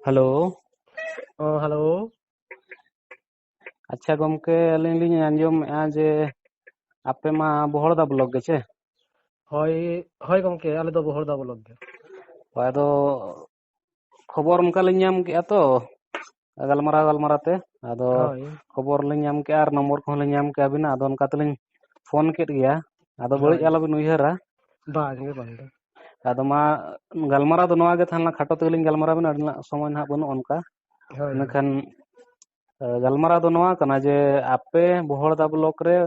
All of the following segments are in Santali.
ᱦᱮᱞᱳ ᱦᱚᱸ ᱦᱮᱞᱳ ᱟᱪᱪᱷᱟ ᱜᱚᱢᱠᱮ ᱟᱹᱞᱤᱧ ᱞᱤᱧ ᱟᱸᱡᱚᱢᱮᱫᱼᱟ ᱡᱮ ᱟᱯᱮ ᱢᱟ ᱵᱚᱦᱚᱲᱫᱟ ᱵᱞᱚᱠ ᱜᱮ ᱪᱮ ᱦᱳᱭ ᱦᱳᱭ ᱜᱚᱢᱠᱮ ᱟᱞᱮ ᱫᱚ ᱵᱚᱦᱚᱲᱫᱟ ᱵᱞᱚᱠ ᱜᱮ ᱟᱫᱚ ᱠᱷᱚᱵᱚᱨ ᱚᱱᱠᱟ ᱞᱤᱧ ᱧᱟᱢ ᱠᱮᱫᱼᱟ ᱛᱚ ᱜᱟᱞᱢᱟᱨᱟᱣ ᱜᱟᱞᱢᱟᱨᱟᱣ ᱛᱮ ᱟᱫᱚ ᱦᱳᱭ ᱠᱷᱚᱵᱚᱨ ᱞᱤᱧ ᱧᱟᱢ ᱠᱮᱜᱼᱟ ᱟᱨ ᱱᱚᱢᱵᱚᱨ ᱠᱚᱦᱚᱸ ᱞᱤᱧ ᱧᱟᱢ ᱠᱮᱜᱼᱟ ᱟᱹᱵᱤᱱᱟᱜ ᱟᱫᱚ ᱚᱱᱠᱟ ᱛᱮᱞᱤᱧ ᱯᱷᱳᱱ ᱠᱮᱫ ᱜᱮᱭᱟ ᱟᱫᱚ ᱵᱟᱹᱲᱤᱡ ᱦᱳᱭ ᱟᱞᱚᱵᱤᱱ ᱩᱭᱦᱟᱹᱨᱟ ᱵᱟᱝ ᱜᱮ ᱵᱟᱝ ᱜᱮ ᱟᱫᱚ ᱢᱟ ᱜᱟᱞᱢᱟᱨᱟᱣ ᱫᱚ ᱱᱚᱣᱟ ᱜᱮ ᱛᱟᱦᱮᱸ ᱞᱮᱱᱟ ᱠᱷᱟᱴᱚ ᱛᱮᱜᱮᱞᱤᱧ ᱜᱟᱞᱢᱟᱨᱟᱣ ᱵᱮᱱᱟ ᱟᱹᱰᱤ ᱱᱟᱜ ᱥᱚᱢᱚᱭ ᱱᱟᱦᱟᱜ ᱵᱟᱹᱱᱩᱜᱼᱟ ᱚᱱᱠᱟ ᱦᱳᱭ ᱤᱱᱟᱹ ᱠᱷᱟᱱ ᱜᱟᱞᱢᱟᱨᱟᱣ ᱫᱚ ᱱᱚᱣᱟ ᱠᱟᱱᱟ ᱡᱮ ᱟᱯᱮ ᱵᱚᱦᱚᱲᱫᱟ ᱵᱞᱚᱠ ᱨᱮ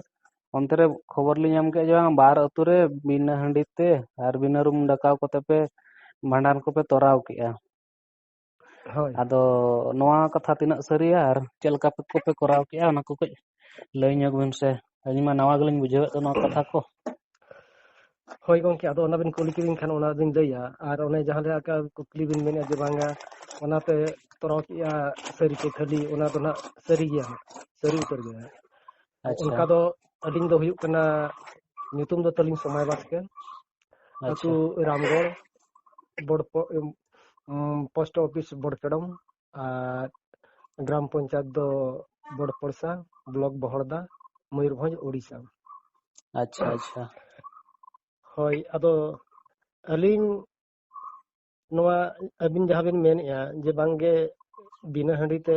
ᱚᱱᱛᱮ ᱨᱮ ᱠᱷᱚᱵᱚᱨ ᱞᱤᱧ ᱧᱟᱢ ᱠᱮᱫᱼᱟ ᱡᱮ ᱵᱟᱝ ᱵᱟᱨ ᱟᱹᱛᱩ ᱨᱮ ᱵᱤᱱᱟᱹ ᱦᱟᱺᱰᱤ ᱛᱮ ᱟᱨ ᱵᱤᱱᱟᱹ ᱨᱩᱢ ᱰᱟᱠᱟᱣ ᱠᱚᱛᱮ ᱯᱮ ᱵᱷᱟᱸᱰᱟᱱ ᱠᱚᱯᱮ ᱛᱚᱨᱟᱣ ᱠᱮᱜᱼᱟ ᱦᱳᱭ ᱟᱫᱚ ᱱᱚᱣᱟ ᱠᱟᱛᱷᱟ ᱛᱤᱱᱟᱹᱜ ᱥᱟᱹᱨᱤᱭᱟ ᱟᱨ ᱪᱮᱫ ᱞᱮᱠᱟ ᱠᱚᱯᱮ ᱠᱚᱨᱟᱣ ᱠᱮᱫᱼᱟ ᱚᱱᱟ ᱠᱚ ᱠᱟᱹᱡ ᱞᱟᱹᱭ ᱧᱚᱜᱽ ᱵᱤᱱ ᱥᱮ ᱟᱹᱞᱤᱧ ᱢᱟ ᱱᱟᱣᱟ ᱜᱮᱞᱤᱧ ᱵᱩᱡᱷᱟᱹᱣᱮᱫ ᱫᱚ ᱱᱚᱣᱟ ᱠᱟᱛᱷᱟ ᱠᱚ ᱦᱳᱭ ᱜᱚᱝᱠᱮ ᱟᱫᱚ ᱚᱱᱟ ᱵᱤᱱ ᱠᱩᱞᱤ ᱠᱤᱫᱤᱧ ᱠᱷᱟᱱ ᱚᱱᱟ ᱵᱤᱱ ᱞᱟᱹᱭᱟ ᱟᱨ ᱚᱱᱮ ᱡᱟᱦᱟᱸ ᱞᱮᱠᱟ ᱠᱩᱠᱞᱤ ᱵᱤᱱ ᱢᱮᱱᱮᱫᱼᱟ ᱡᱮ ᱵᱟᱝᱟ ᱚᱱᱟᱛᱮ ᱛᱚᱨᱟᱣ ᱠᱮᱫᱼᱟ ᱥᱟᱹᱨᱤ ᱥᱮ ᱠᱷᱟᱹᱞᱤ ᱚᱱᱟ ᱫᱚ ᱱᱟᱜ ᱥᱟᱹᱨᱤ ᱜᱮᱭᱟ ᱥᱟᱹᱨᱤ ᱩᱛᱟᱹᱨ ᱜᱮᱭᱟ ᱟᱪᱪᱷᱟ ᱚᱱᱠᱟ ᱫᱚ ᱟᱹᱞᱤᱧ ᱫᱚ ᱦᱩᱭᱩᱜ ᱠᱟᱱᱟ ᱧᱩᱛᱩᱢ ᱫᱚ ᱛᱟᱹᱞᱤᱧ ᱥᱚᱢᱟᱭ ᱵᱟᱥᱠᱮ ᱟᱪᱪᱷᱟ ᱟᱹᱛᱩ ᱨᱟᱢᱜᱚᱲ ᱵᱚᱲᱯᱚ ᱯᱳᱥᱴ ᱚᱯᱷᱤᱥ ᱵᱚᱲᱯᱮᱰᱚᱢ ᱟᱨ ᱜᱨᱟᱢ ᱯᱚᱧᱪᱟᱭᱮᱛ ᱫᱚ ᱵᱚᱲᱯᱚᱲᱥᱟ ᱵᱞᱚᱠ ᱵᱚᱦᱚᱲᱫᱟ ᱢᱚᱭᱩᱨᱵᱷᱚᱸᱡᱽ ᱳᱰᱤᱥᱟ ᱟᱪᱪᱷᱟ ᱟᱪᱪᱷᱟ ᱦᱳᱭ ᱟᱫᱚ ᱟᱹᱞᱤᱧ ᱱᱚᱣᱟ ᱟᱹᱵᱤᱱ ᱡᱟᱦᱟᱸ ᱵᱤᱱ ᱢᱮᱱᱮᱫᱼᱟ ᱡᱮ ᱵᱟᱝᱜᱮ ᱵᱤᱱᱟᱹ ᱦᱟᱺᱰᱤ ᱛᱮ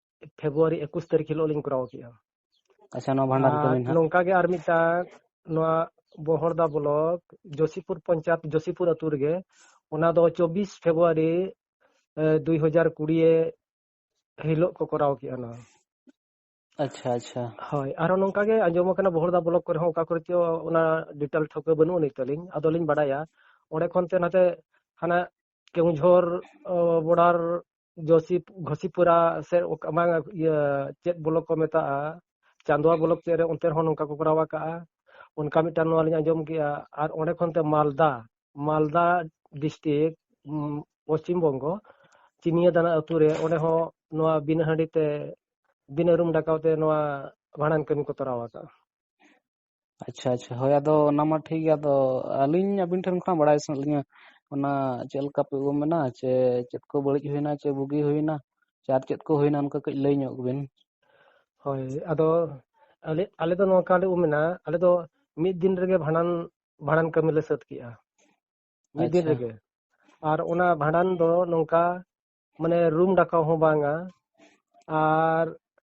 ᱯᱷᱮᱵᱨᱩᱣᱟᱨᱤ ᱮᱠᱩᱥ ᱛᱟᱹᱨᱤᱠᱷ ᱦᱤᱞᱳᱜ ᱞᱤᱧ ᱠᱚᱨᱟᱣ ᱠᱮᱫᱼᱟ ᱟᱪᱪᱷᱟ ᱱᱚᱣᱟ ᱵᱷᱟᱱᱰᱟᱨ ᱟᱨ ᱠᱟᱹᱢᱤ ᱱᱟᱦᱟᱜ ᱱᱚᱝᱠᱟ ᱜᱮ ᱟᱨ ᱢᱤᱫᱴᱟᱝ ᱱᱚᱣᱟ ᱵᱚᱦᱚᱲᱫᱟ ᱵᱞᱚᱠ ᱡᱳᱥᱤᱯᱩᱨ ᱯᱚᱧᱪᱟᱭᱮᱛ ᱡᱳᱥᱤᱯᱩᱨ ᱟᱹᱛᱩ ᱨᱮᱜᱮ ᱚᱱᱟ ᱫᱚ ᱪᱚᱵᱵᱤᱥ ᱯᱷᱮᱵᱨᱩᱣᱟᱨᱤ ᱫᱩᱭ ᱦᱟᱡᱟᱨ ᱠᱩᱲᱤᱭᱮ ᱦᱤᱞᱳᱜ ᱠᱚ ᱠᱚᱨᱟᱣ ᱠᱮᱫᱼᱟ ᱱᱚᱣᱟ ᱟᱪᱪᱷᱟ ᱟᱪᱪᱷᱟ ᱦᱳᱭ ᱟᱨᱦᱚᱸ ᱱᱚᱝᱠᱟ ᱜᱮ ᱟᱸᱡᱚᱢ ᱟᱠᱟᱱᱟ ᱵᱚᱦᱚᱲᱫᱟ ᱵᱞᱚᱠ ᱠᱚᱨᱮ ᱦᱚᱸ ᱚᱠᱟ ᱠᱚᱨᱮ ᱪᱚ ᱚᱱᱟ ᱰᱤᱴᱮᱞ ᱴᱷᱟᱹᱣᱠᱟᱹ ᱵᱟᱹᱱᱩᱜ ᱟᱹᱱᱤᱡ ᱛᱟᱹᱞᱤᱧ ᱟᱫᱚᱞᱤᱧ ᱵᱟᱰᱟᱭᱟ ᱚᱸᱰᱮ ᱠᱷᱚᱱ ᱛᱮ ᱱᱟᱛᱮ ᱦᱟᱱᱟ ᱠᱮᱣᱡᱷᱚᱨ ᱵᱚᱰᱟᱨ ᱡᱚᱥᱤ ᱜᱷᱚᱥᱤᱯᱩᱨᱟ ᱥᱮ ᱵᱟᱝ ᱤᱭᱟᱹ ᱪᱮᱫ ᱵᱞᱚᱠ ᱠᱚ ᱢᱮᱛᱟᱜᱼᱟ ᱪᱟᱸᱫᱣᱟ ᱵᱞᱚᱠ ᱪᱮᱫ ᱨᱮ ᱚᱱᱛᱮ ᱨᱮᱦᱚᱸ ᱱᱚᱝᱠᱟ ᱠᱚ ᱠᱚᱨᱟᱣ ᱟᱠᱟᱜᱼᱟ ᱚᱱᱠᱟ ᱢᱤᱫᱴᱟᱝ ᱱᱚᱣᱟ ᱞᱤᱧ ᱟᱸᱡᱚᱢ ᱠᱮᱜᱼᱟ ᱟᱨ ᱚᱸᱰᱮ ᱠᱷᱚᱱ ᱛᱮ ᱢᱟᱞᱫᱟ ᱢᱟᱞᱫᱟ ᱰᱤᱥᱴᱤᱠ ᱯᱚᱥᱪᱤᱢ ᱵᱚᱝᱜᱚ ᱪᱤᱱᱤᱭᱟ ᱫᱟᱱᱟ ᱟᱹᱛᱩ ᱨᱮ ᱚᱸᱰᱮ ᱦᱚᱸ ᱱᱚᱣᱟ ᱵᱤᱱᱟᱹ ᱦᱟᱺᱰᱤ ᱛᱮ ᱵᱤᱱᱟᱹ ᱨᱩᱢ ᱰᱟᱠᱟᱣ ᱛᱮ ᱱᱚᱣᱟ ᱵᱷᱟᱸᱰᱟᱱ ᱠᱟᱹᱢᱤ ᱠᱚ ᱛᱚᱨᱟᱣ ᱟᱠᱟᱜᱼᱟ ᱟᱪᱪᱷᱟ ᱟᱪᱪᱷᱟ ᱦᱳᱭ ᱟᱫᱚ ᱚᱱᱟ ᱢᱟ ᱴᱷᱤᱠ ᱜᱮᱭᱟ ᱟᱫᱚ ᱟᱹᱞᱤᱧ ᱟᱹᱵᱤᱱ ᱴᱷᱮᱱ ᱠᱷᱚᱱᱟᱜ ᱵᱟᱲᱟᱭ ᱥᱟᱱᱟᱭᱮᱫ ᱞᱤᱧᱟᱹ ᱚᱱᱟ ᱪᱮᱫ ᱞᱮᱠᱟ ᱯᱮ ᱩᱢ ᱮᱱᱟ ᱪᱮ ᱪᱮᱫ ᱠᱚ ᱵᱟᱹᱲᱤᱡ ᱦᱩᱭᱱᱟ ᱪᱮ ᱵᱩᱜᱤ ᱦᱩᱭᱱᱟ ᱪᱮ ᱟᱨ ᱪᱮᱫ ᱠᱚ ᱦᱩᱭᱱᱟ ᱚᱱᱠᱟ ᱠᱟᱹᱡ ᱞᱟᱹᱭ ᱧᱚᱜ ᱵᱤᱱ ᱦᱳᱭ ᱟᱫᱚ ᱟᱞᱮ ᱟᱞᱮ ᱫᱚ ᱱᱚᱝᱠᱟ ᱞᱮ ᱩᱢ ᱮᱱᱟ ᱟᱞᱮ ᱫᱚ ᱢᱤᱫ ᱫᱤᱱ ᱨᱮᱜᱮ ᱵᱷᱟᱸᱰᱟᱱ ᱵᱷᱟᱸᱰᱟᱱ ᱠᱟᱹᱢᱤ ᱞᱮ ᱥᱟᱹᱛ ᱠᱮᱜᱼᱟ ᱢᱤᱫ ᱫᱤᱱ ᱟᱪᱪᱷᱟ ᱨᱮᱜᱮ ᱟᱨ ᱚᱱᱟ ᱵᱷᱟᱸᱰᱟᱱ ᱫᱚ ᱱᱚᱝᱠᱟ ᱢᱟᱱᱮ ᱨᱩᱢ ᱰᱟᱠᱟᱣ ᱦᱚᱸ ᱵᱟᱝᱟ ᱟᱨ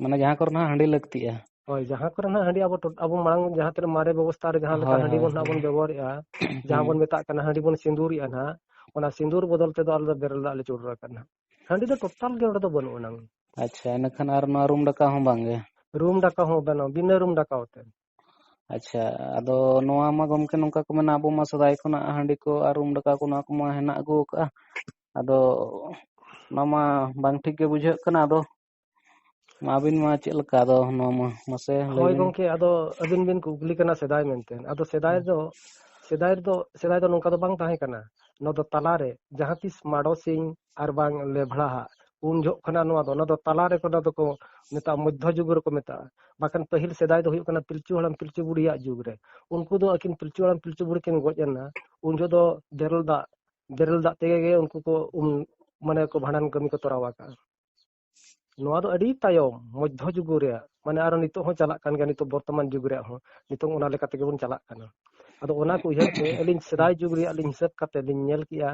ᱢᱟᱱᱮ ᱡᱟᱦᱟᱸ ᱠᱚᱨᱮ ᱱᱟᱜ ᱦᱟᱺᱰᱤ ᱞᱟᱹᱠᱛᱤᱜᱼᱟ ᱦᱳᱭ ᱡᱟᱦᱟᱸ ᱠᱚᱨᱮ ᱱᱟᱜ ᱦᱟᱺᱰᱤ ᱟᱵᱚ ᱟᱵᱚ ᱢᱟᱲᱟᱝ ᱡᱟᱦᱟᱸ ᱛᱤᱱᱟᱹᱜ ᱢᱟᱨᱮ ᱵᱮᱵᱚᱥᱛᱟ ᱨᱮ ᱡᱟᱦᱟᱸ ᱞᱮᱠᱟ ᱦᱳᱭ ᱦᱟᱺᱰᱤ ᱦᱳᱭ ᱵᱚᱱ ᱱᱟᱜ ᱵᱚᱱ ᱵᱮᱵᱚᱦᱟᱨᱮᱜᱼᱟ ᱡᱟᱦᱟᱸ ᱦᱩᱸ ᱵᱚᱱ ᱢᱮᱛᱟᱜ ᱠᱟᱱᱟ ᱦᱟᱺᱰᱤ ᱵᱚᱱ ᱥᱤᱸᱫᱩᱨᱮᱜᱼᱟ ᱱᱟᱜ ᱚᱱᱟ ᱥᱤᱸᱫᱩᱨ ᱵᱚᱫᱚᱞ ᱛᱮᱫᱚ ᱟᱞᱮ ᱫᱚ ᱵᱮᱨᱮᱞ ᱫᱟᱜ ᱞᱮ ᱪᱚᱰᱚᱨ ᱟᱠᱟᱫ ᱱᱟᱜ ᱦᱟᱺᱰᱤ ᱫᱚ ᱴᱳᱴᱟᱞ ᱜᱮ ᱚᱸᱰᱮ ᱫᱚ ᱵᱟᱹᱱᱩᱜ ᱟᱱᱟᱝ ᱟᱪᱪᱷᱟ ᱤᱱᱟᱹᱠᱷᱟᱱ ᱟᱨ ᱱᱚᱣᱟ ᱨᱩᱢ ᱰᱟᱠᱟᱣ ᱦᱚᱸ ᱵᱟᱝ ᱜᱮ ᱨᱩᱢ ᱰᱟᱠᱟᱣ ᱦᱚᱸ ᱵᱟᱝ-ᱟ ᱵᱤᱱᱟᱹ ᱨᱩᱢ ᱰᱟᱠᱟᱣ ᱛᱮ ᱟᱪᱪᱷᱟ ᱟᱫᱚ ᱱᱚᱣᱟ ᱢᱟ ᱜᱚᱢᱠᱮ ᱱᱚᱝᱠᱟ ᱠᱚ ᱢᱮᱱᱟ ᱟᱵᱚ ᱢᱟ ᱥᱮᱫᱟᱭ ᱠᱷᱚᱱᱟᱜ ᱦᱟᱺᱰᱤ ᱠᱚ ᱟᱨ ᱨᱩᱢ ᱰᱟᱠᱟᱣ ᱠᱚ ᱱᱚᱣᱟ ᱠᱚᱢᱟ ᱦᱮᱱᱟᱜ ᱟᱹᱜᱩ ᱠᱟᱜᱼᱟ ᱟᱫᱚ ᱚᱱᱟ ᱢᱟ ᱵᱟᱝ ᱴᱷᱤᱠ ᱜᱮ ᱵᱩᱡᱷᱟᱹᱜ ᱠᱟᱱᱟ ᱟᱫᱚ ᱢᱟ ᱟᱹᱵᱤᱱ ᱢᱟ ᱪᱮᱫ ᱞᱮᱠᱟ ᱟᱫᱚ ᱱᱚᱣᱟ ᱢᱟ ᱢᱟᱥᱮ ᱞᱟᱹᱭ ᱦᱳᱭ ᱵᱤᱱ ᱜᱚᱝᱠᱮ ᱟᱫᱚ ᱟᱹᱵᱤᱱ ᱵᱤᱱ ᱠᱩᱠᱞᱤ ᱠᱟᱱᱟ ᱥᱮᱫᱟᱭ ᱢᱮᱱᱛᱮ ᱟᱫᱚ ᱥᱮᱫᱟᱭ ᱫᱚ ᱥᱮᱫᱟᱭ ᱨᱮᱫᱚ ᱥᱮᱫᱟᱭ ᱫᱚ ᱱᱚᱝᱠᱟ ᱫᱚ ᱵᱟᱝ ᱛᱟᱦᱮᱸ ᱠᱟᱱᱟ ᱱᱚᱣᱟ ᱫᱚ ᱛᱟᱞᱟᱨᱮ ᱡᱟᱦᱟᱸ ᱛᱤᱥ ᱢᱟᱰᱚ ᱥᱤᱧ ᱟᱨ ᱵᱟᱝ ᱞᱮᱵᱷᱲᱟ ᱦᱟᱜ ᱩᱱ ᱡᱚᱦᱚᱜ ᱠᱟᱱᱟ ᱱᱚᱣᱟ ᱫᱚ ᱚᱱᱟ ᱫᱚ ᱛᱟᱞᱟᱨᱮ ᱚᱱᱟ ᱫᱚᱠᱚ ᱢᱮᱛᱟᱜᱼᱟ ᱢᱚᱫᱽᱫᱷᱚ ᱡᱩᱜᱽ ᱨᱮᱠᱚ ᱢᱮᱛᱟᱜᱼᱟ ᱵᱟᱠᱷᱟᱱ ᱯᱟᱹᱦᱤᱞ ᱥᱮᱫᱟᱭ ᱫᱚ ᱦᱩᱭᱩᱜ ᱠᱟᱱᱟ ᱯᱤᱞᱪᱩ ᱦᱟᱲᱟᱢ ᱯᱤᱞᱪᱩ ᱵᱩᱲᱦᱤᱭᱟᱜ ᱡᱩᱜᱽ ᱨᱮ ᱩᱱᱠᱩ ᱫᱚ ᱟᱹᱠᱤᱱ ᱯᱤᱞᱪᱩ ᱦᱟᱲᱟᱢ ᱯᱤᱞᱪᱩ ᱵᱩᱲᱦᱤ ᱠᱤᱱ ᱜᱚᱡ ᱮᱱᱟ ᱩᱱ ᱡᱚᱦᱚᱜ ᱫᱚ ᱵᱮᱨᱮᱞ ᱫᱟᱜ ᱵᱮᱨᱮᱞ ᱫᱟᱜ ᱛᱮᱜᱮ ᱜᱮ ᱩᱱᱠᱩ ᱠᱚ ᱩᱢ ᱢᱟᱱᱮ ᱠᱚ ᱵᱷᱟᱸᱰᱟᱱ ᱠᱟᱹᱢᱤ ᱠᱚ ᱛᱚᱨᱟᱣ ᱟᱠᱟᱜᱼᱟ ᱱᱚᱣᱟ ᱫᱚ ᱟᱹᱰᱤ ᱛᱟᱭᱚᱢ ᱢᱚᱫᱽᱫᱷᱚ ᱡᱩᱜᱽ ᱨᱮᱭᱟᱜ ᱢᱟᱱᱮ ᱟᱨᱚ ᱱᱤᱛᱚᱜ ᱦᱚᱸ ᱪᱟᱞᱟᱜ ᱠᱟᱱ ᱜᱮᱭᱟ ᱱᱤᱛᱚᱜ ᱵᱚᱨᱛᱚᱢᱟᱱ ᱡᱩᱜᱽ ᱨᱮᱭᱟᱜ ᱦᱚᱸ ᱱᱤᱛᱚᱜ ᱚᱱᱟ ᱞᱮᱠᱟ ᱛᱮᱜᱮ ᱵᱚᱱ ᱪᱟᱞᱟᱜ ᱠᱟᱱᱟ ᱟᱫᱚ ᱚᱱᱟ ᱠᱚ ᱩᱭᱦᱟᱹᱨ ᱛᱮ ᱟᱹᱞᱤᱧ ᱥᱮᱫᱟᱭ ᱡᱩᱜᱽ ᱨᱮᱭᱟᱜ ᱞᱤᱧ ᱦᱤᱥᱟᱹᱵ ᱠᱟᱛᱮ ᱞᱤᱧ ᱧᱮᱞ ᱠᱮᱜᱼᱟ